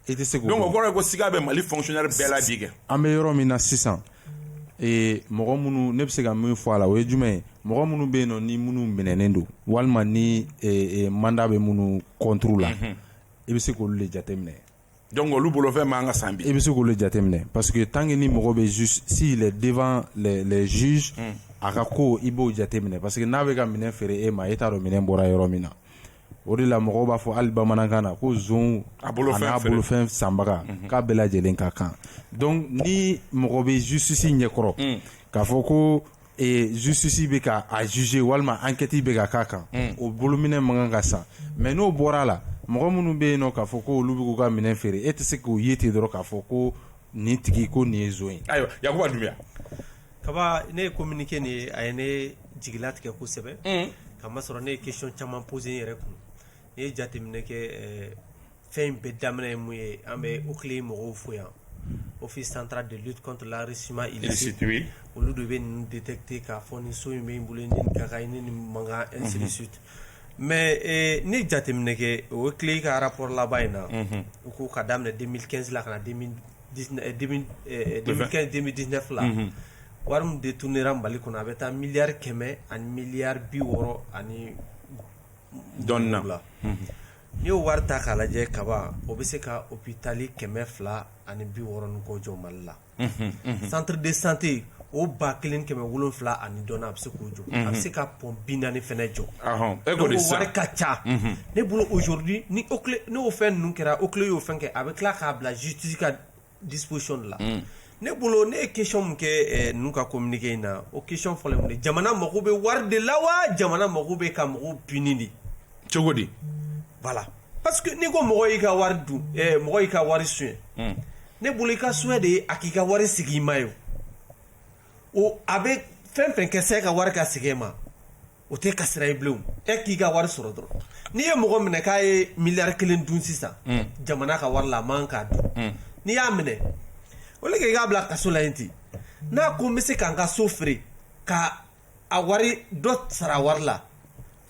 e tɛ se k'o dɔn donc o kɔrɔ ye ko siga bɛ mali fonctionnaire bɛɛ la bi kɛ an bɛ yɔrɔ min na sisan ee mɔgɔ minnu ne bɛ se ka min fɔ a la o ye jumɛn ye mɔgɔ minnu bɛ yen nɔ ni minnu minɛnen don walima ni mandat bɛ minnu contre la i bɛ se k'olu de jateminɛ donc olu bolofɛn man ka san i bɛ se k'olu jateminɛ parce que tant que ni mɔgɔ bɛ s'il est devant les juges a ka ko i b'o jateminɛ parce que n'a bɛ ka minɛn feere e ma e t'a dɔn minɛn bɔra yɔrɔ min na o de la mɔgɔw b'a fɔ hali bamanankan na ko zon a n'a bolo fɛn sanbaga k'a bɛɛ lajɛlen ka kan donc ni mɔgɔ bɛ justice ɲɛkɔrɔ k'a fɔ ko justice bɛ ka a juger walima enquête bɛ ka k'a kan o bolominɛn man kan ka san mais n'o bɔra a la mɔgɔ minnu bɛ yen nɔ k'a fɔ ko olu bɛ k'u ka minɛn feere e tɛ se k'o ye ten dɔrɔn k'a fɔ ko nin tigi ko nin ye zon ye ayiwa kaba ne ye communique nin ye a ye ne jigilatigɛ kosɛbɛ ka masɔrɔ ne ye question caman poser n yɛrɛ kun ne ye jateminɛ kɛ fɛn in bɛɛ daminɛ ye mun ye an bɛ OCLEI mɔgɔw fo yan office central de lutte contre l'enrichissement illicite olu de bɛ ninnu détecter k'a fɔ nin so in bɛ n bolo ni nin ka kan ni nin man kan ainsi de suite mais n ye jateminɛ kɛ OCLEI ka rapport laban in na u ko ka daminɛ 2015 la ka na 2000 2015 2019 la wari min détournera mali kɔnɔ a bɛ taa miliyari kɛmɛ ani miliyari bi wɔɔrɔ ani dɔɔni na n'i y'o wari ta k'a lajɛ kaba o bɛ se ka hôpitali kɛmɛ fila ani bi wɔɔrɔ ni kɔ jɔ mali la centre de santé o ba kelen kɛmɛ wolonwula ani dɔɔni a bɛ se k'o jɔ a bɛ se ka pɔn bi naani fɛnɛ jɔ wari ka ca ne bolo aujourd'hui n'o fɛn ninnu kɛra OCLEI y'o fɛn kɛ a bɛ tila k'a bila justice ka disposition de la ne bolo ne ye question min kɛ ninnu ka communique in na o question fɔlɔ ye mun ye jamana mako bɛ wari de la wa jamana mako bɛ ka mɔgɔw puni de cogo di voilà parce que n'i ko mɔgɔ y'i ka wari dun eh, mɔgɔ y'i ka wari suɲɛ hmm. ne bolo i ka souhait de ye a k'i ka wari segin i ma ye o a bɛ fɛn fɛn kɛ s'e ka wari ka segin e ma o t'e ka sira ye bilen e k'i ka wari sɔrɔ dɔrɔn n'i ye mɔgɔ minɛ k'a ye miliyari kelen dun sisan hmm. jamana ka wari la a man k'a dun hmm. n'i y'a minɛ o le kɛ i k'a bila kaso la yen ten n'a ko n bɛ se ka n ka so feere ka a wari dɔ sara wari la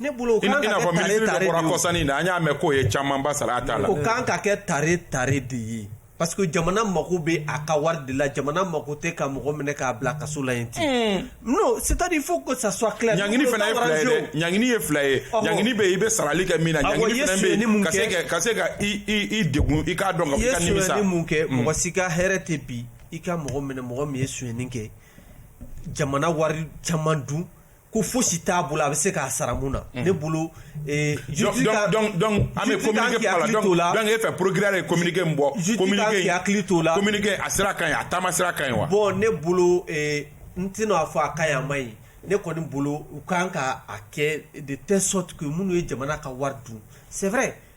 ne bolo o kan ka kɛ tare tare de ye o kɔsani na an y'a mɛn k'o ye camanba sara a ta la o kan ka kɛ tare tare de ye parce que jamana mako bɛ a ka wari de la jamana mako tɛ ka mɔgɔ minɛ k'a bila kaso la yen ten non c'est à dire il faut que ça soit clair ɲangini fana ye fila ye dɛ ɲangini ye fila ye ɲangini bɛ yen i bɛ sarali kɛ min na ɲangini fana bɛ yen ka se ka ka se ka i i i degun i k'a dɔn ka fɔ i ka nimisa i ye sonyani mun kɛ mɔgɔ si ka hɛrɛ tɛ bi i ka mɔgɔ minɛ mɔgɔ min ye sonyani kɛ jamana wari caman dun ko fosi t'a bolo a bɛ se k'a sara mun na mm. ne bolo eh, an bɛ communiqué la donc e fɛ procureur ye communiqué min bɔ communiqué in hakili t'o la communiqué a sira ka ɲi a taama sira ka ɲi wa bon ne bolo eh, n tɛna a fɔ a ka ɲi a man ɲi ne kɔni bolo u kan ka a kɛ de telle sorte que minnu ye jamana ka wari dun c'est vrai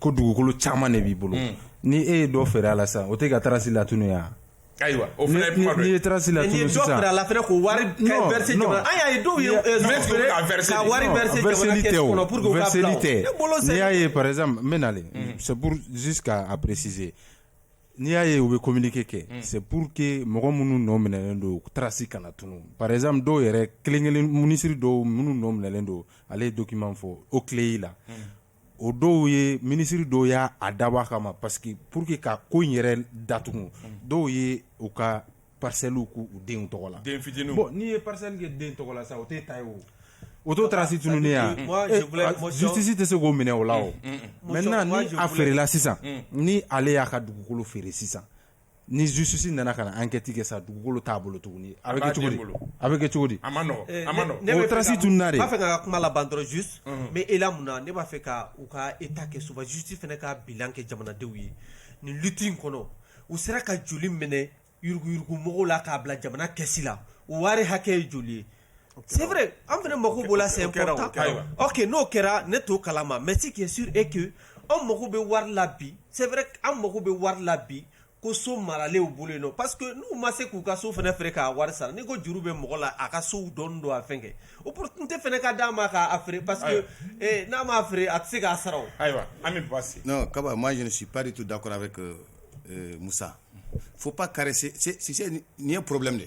ko dugukolo caman de b'i bolo ni e ye dɔ feere a la sa o tɛ ka trace latunu ya ayiwa o la ko wari ye dɔw la y'a ye par exemple n bɛ na c'est pour juste ka a préciser n'i y'a ye u bɛ communiqué kɛ c'est pour que mɔgɔ minnu nɔ minɛlen don trace kana tunu par exemple dɔw yɛrɛ kelen- kelen minisiri dɔw minnu nɔ minɛlen don ale ye document fɔ o clé y'i la o dɔw ye minisiri dɔw y' a dabɔ a kama parce que pour que ka ko in yɛrɛ datugu dɔw ye u ka parcellew k' u denw tɔgɔ la denfitininw bon n'i ye parcelle kɛ den tɔgɔ la sa o tɛ ta o o t'o trace tununi ya justice tɛ se k'o minɛ o la o maintenant ni a feerela sisan ni ale y'a ka dugukolo feere sisan ni justice nana ka na enquête kɛ sa dugukolo t'a bolo tuguni a bɛ kɛ cogo di? A bɛ kɛ cogo di? A ma nɔgɔ a ma nɔgɔ. Ɛɛ o trace tununa de. N b'a fɛ ka n ka kuma laban dɔrɔn juste mais e la mun na ne b'a fɛ ka u ka état kɛ souvent justice fana ka bilan kɛ jamanadenw ye nin lutte in kɔnɔ u sera ka joli minɛ yuruguyurugu mɔgɔw la k'a bila jamana caisse la o wari hakɛ ye joli ye? c'est vrai an fana mako b'o la c'est important ok n'o kɛra ne t'o kalama mais ce qui est sûr est que anw mako bɛ wari la bi c'est vrai an mako bɛ wari la bi ko so maralen b'u bolo yen parce que n'u ma se k'u ka so fana feere k'a wari sara ni ko juru bɛ mɔgɔ la a ka so dɔn don a fɛn kɛ opportunité fana ka d'a ma k'a feere parce que n'a m'a feere a tɛ se k'a sara ayiwa an Kaba moi je ne suis pas du tout d'accord avec Musa faut pas caresser nin ye problème de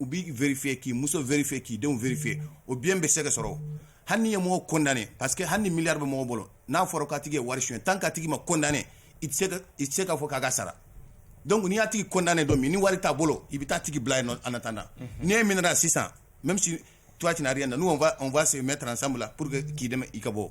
u b'i vérifier k'i muso vérifier k'i denw vérifier o bien bɛ se ka sɔrɔ hali n'i ye mɔgɔ condamné parce que hali ni milliard bɛ mɔgɔ bolo n'a fɔra k'a tigi ye wari suɲɛ tant que a tigi ma condamné i tɛ se ka i tɛ se k'a fɔ k'a ka sara donc n'i y'a tigi condamné don min ni wari t'a bolo i bɛ taa a tigi bila yen nɔ en attendant n'i e minɛna sisan même si toi tu n'as rien nous on va on va se mettre ensemble là pour que k'i dɛmɛ i ka bɔ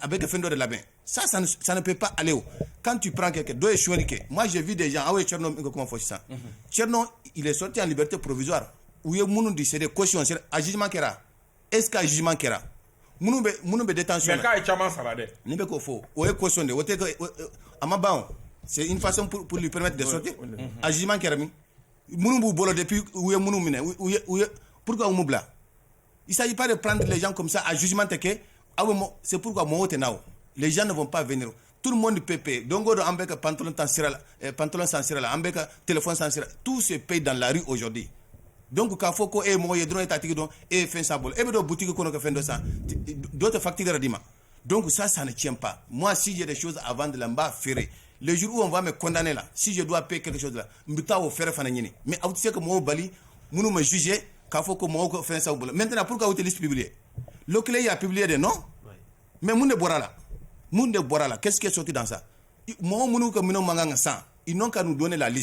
a bɛ kɛ fɛn dɔ de labɛn sa sanu pe pa ale kan t'i pkɛ kɛ dɔw ye suli kɛ makanze v de jan aw ye cɛ min kɛ kuma fɔ sisan cɛ sɔti ani bɛ to porobiz u ye minnu de sere kosi azuma kɛra esi zuma kɛra minnu bɛ de taa sunjata ye caman sara dɛ nin bɛ koo fɔ o ye kosɔn de o tɛ a ma ban sefa polili pɛ de sɔte azuma kɛra minnu b'u bolo de u ye minnu minɛ p'mu bila Isaji pa de pan lajɛ jan kɔmimisa a zuman tɛ kɛ aw bɛ seuru ka mɔgɔw tɛ n'aw lajɛ jan de fɔ pan fɛ tuuru mɔndi ppɛ don don an bɛ ka pant tan sira la pant san sira la an bɛ ka tf san sira tuu sen pe dan lari oodi don k'a fɔ ko e mɔgɔ ye dɔrɔn e tatigi dɔn e ye fɛn sa bolo e bɛ don butigi kɔnɔ kɛ fɛn dɔ san dɔ tɛ fatigi yɛrɛ d'i ma Don sa san ni cɛp mɔgɔ si yɛrɛ susan a b'an dilan n b'a feereere juruuru an'a mɛn kɔntan ne la sijɛ don a pe kɛlɛ la n bɛ taa o fɛrɛɛrɛ fana ɲini mɛ aw tɛ se ka maaw bali minnu ma zze k'a fɔ ko mɔgɔw ka fɛn sa bolo mɛ tɛna p walasaur quelibi lu kelen y'a ppipbi de nɔ mɛ mun de bɔra la minnu de bɔra la kɛsseke soti dan sa mɔgɔ minnu ka minnu mankan kan ka san i n' ka n'u don ne lali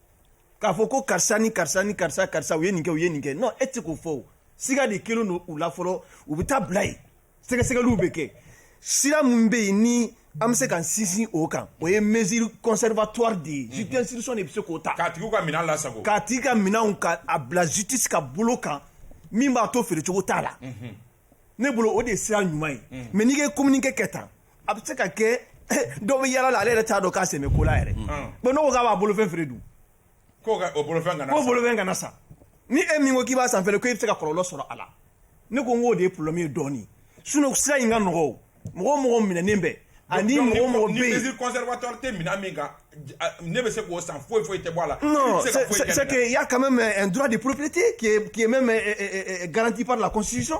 k'a fɔ ko karisa ni karisa ni karisa karisa u ye nin kɛ u ye nin kɛ non e tɛ k'o fɔ o siga de kɛlen don u la fɔlɔ u bɛ taa bila yen sɛgɛsɛgɛliw bɛ kɛ sira min bɛ yen ni an bɛ se ka sinsin o kan o ye mesure conservatoire de ye juge d'instruction de bɛ se k'o ta k'a tigiw ka minɛn lasago k'a tigi ka minɛnw ka a bila justice ka bolo kan min b'a to feerecogo t'a la ne bolo o de ye sira ɲuman ye mais n'i ye communiqué kɛ tan a bɛ se ka kɛ dɔw bɛ yalala ale yɛrɛ t'a dɔn k'a sɛmɛ kola yɛrɛ bon n' k'a b'a bolofɛn feere dun ko bolofɛn kana sa ni e min ko k'i b'a san fɛ ko e bɛ se ka kɔlɔlɔ sɔrɔ a la ne ko n k'o de ye pmi ye dɔɔnin sun sira in ka nɔgɔ mɔgɔ mɔgɔ minɛen bɛɛ ani mɔgɔ mɔgɔ ne bɛ se k'o san foyi foyi tɛ bɔ a la ya ka mɛ dti k'mɛ garanti'a la ko sisan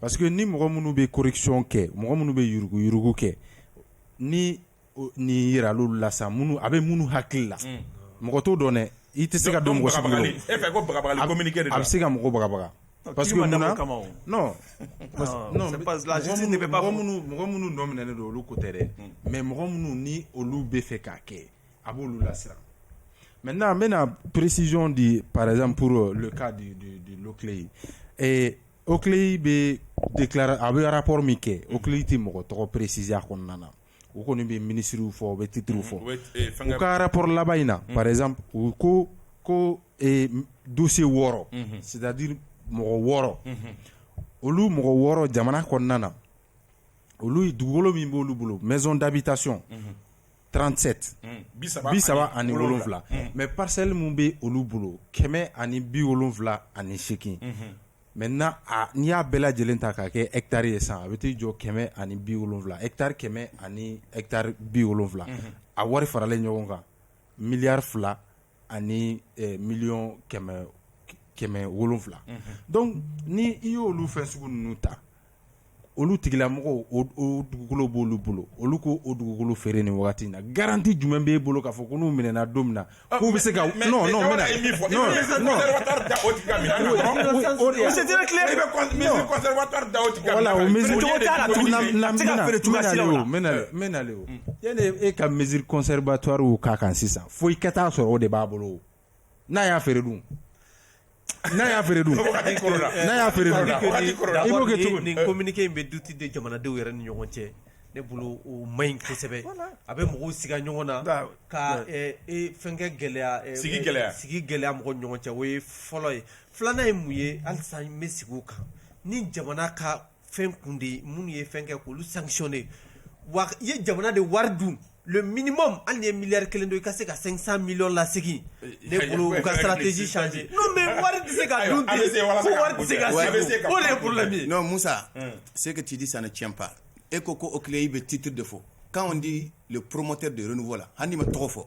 parce que ni mɔgɔ minnu bɛ corruption kɛ mɔgɔ minnu bɛ yuruguyurugu kɛ ni nin jira l'olu la sa minnu a bɛ minnu hakili la mɔgɔ t'o dɔn dɛ i tɛ se ka don mɔgɔ sigilen kɔrɔ, e fɛ ko bagabagani communiqué de don wa, a bɛ se ka mɔgɔ bagabaga parce que mun na non non mɔgɔ minnu nɔ minɛnen don olu ko tɛ dɛ mais mɔgɔ minnu ni olu bɛ fɛ k'a kɛ a b'olu bilasira mɛ n' an bɛna peresizɔn de parezzanpur ka de ye ee o kɛlen bɛ de tilara a bɛ arapo min kɛ o kɛlen tɛ mɔgɔ tɔgɔ peresiz kɔnɔna na u kɔni bɛ minisiriw fɔ u bɛ titiriuru fɔ ka arapo laban in na parez u ko ko donse wɔɔrɔ sidadi mɔgɔ wɔɔrɔ olu mɔgɔ wɔɔrɔ jamana kɔnɔna na olu dugukolo min b' olu bolo mɛ dabi tasiɔn 37 bi saba ani wolonwula mais parcelle min bɛ olu bolo kɛmɛ ani bi wolonwula ani segin maintenant n'i y'a bɛɛ lajɛlen ta k'a kɛ hectare ye san a bɛ t'i jɔ kɛmɛ ani bi wolonwula hectare kɛmɛ ani hectare bi wolonwula a wari faralen ɲɔgɔn kan miliyari fila ani miliyɔn kɛmɛ wolonwula donc ni i y'olu fɛn sugu ninnu ta olu tigilamɔgɔw o dugukolo b'olu bolo olu ko o dugukolo feere nin waati na garanti jumɛn b'e bolo k'a fɔ ko n'u minɛ don min na k'u bɛ se ka yanni e ka mesure conservatoire k'a kan sisan fo i ka taa sɔrɔ o de b'a bolo n'a y'a feere dun n'a y'a feere dun i b'o kɛ cogo nin communiqué in bɛ doute de jamanadenw yɛrɛ ni ɲɔgɔn cɛ ne bolo o man ɲi kosɛbɛ a bɛ mɔgɔw siga ɲɔgɔn na ka fɛnkɛ gɛlɛya sigi gɛlɛya mɔgɔw ni ɲɔgɔn cɛ o ye fɔlɔ ye filanan ye mun ye halisa n bɛ segin o kan ni jamana ka fɛn kun de ye minnu ye fɛn kɛ k'olu sanctionner wa i ye jamana de wari dun le minimum hali n'i ye miliyari kelen dun i ka se ka 500 millions lasegin ne bolo u ka stratégie changer non mais wari tɛ se ka dun ten ko wari tɛ se ka segin o de ye problème ye non Moussa ce que tu dis ça ne tient pas e ko ko OCLEI bɛ titre de fɔ quand on dit le promoteur de renouveau la hali n'i ma tɔgɔ fɔ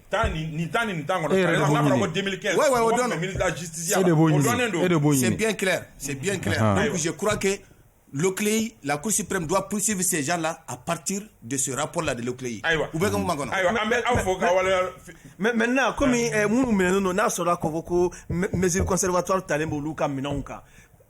tan ni nin tan ni nin tan kɔnɔ. E yɛrɛ de b'o ɲini. N'a fɔra ko 2015. Ouais, ouais, o dɔnnen don. Ministre de la justice ya la. E de b'o ɲini. O dɔnnen don. E de b'o ɲini. C'est bien clair, c'est bien clair. Ahan. Donc je crois que l'OCLEI, la Cour suprême doit poursuivre ces gens-là à partir de ce rapport-là de l'OCLEI. Ayiwa. U bɛ ka mun man kɔnɔ. Ayiwa, an bɛ aw fo k'aw waleya. Mais maintenant comme eh, minnu minɛnen don n'a sɔrɔla k'a fɔ ko me- mesure conservatoire talen b'olu ka minɛnw kan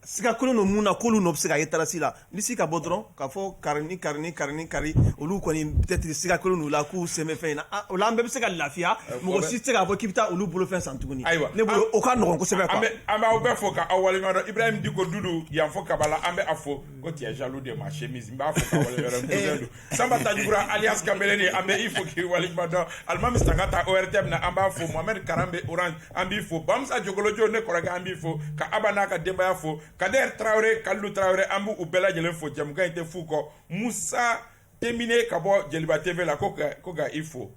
siga kɛlen don minnu na k'olu nɔ bɛ se ka ye tarasi la lisi ka bɔ dɔrɔn k'a fɔ kari ni kari ni kari ni kari olu kɔni peut-être siga kɛlen don u la k'u sen bɛ fɛn in na o la an bɛɛ bɛ se ka lafiya mɔgɔ si tɛ se k'a fɔ k'i bɛ taa olu bolofɛn san tuguni ayiwa ne bolo o ka nɔgɔn kosɛbɛ quoi an b'aw bɛɛ fo k'aw waleɲuman dɔn Ibrahim Diko Dudu yan fo Kabala an bɛ a fo ko tu es jaloux de ma chemise n b'a fo k'a waleɲuman dɔn sanba tajkura alias kambeleni an bɛ i fo k'i waleɲuman dɔn alimami sangata ORTM na an b'a fo mohamɛdi karanbe Orange an b'i fo bamisa jokolojo ne kɔrɔkɛ an b'i fo ka aba n'a ka denbaya fo kader tarawele kalu tarawele an b'u bɛɛ lajɛlen fo jamukan in tɛ f'u kɔ musa tenbine ka bɔ jeliba TV la ko ka i fo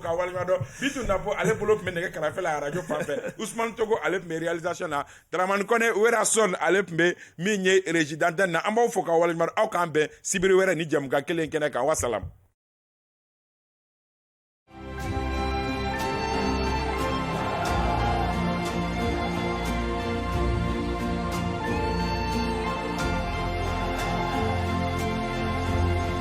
k'i waleɲuman dɔn bintu napo ale bolo tun bɛ nɛgɛ kɛrɛfɛ la arajo fan fɛ usman togo ale tun bɛ réalisation na daramani kɔnɛ wereson ale tun bɛ min ye régie d'antenne na an b'aw fo k'aw waleɲuman dɔn aw k'an bɛn sibiri wɛrɛ ni jamukan kelen kɛnɛ kan wasalam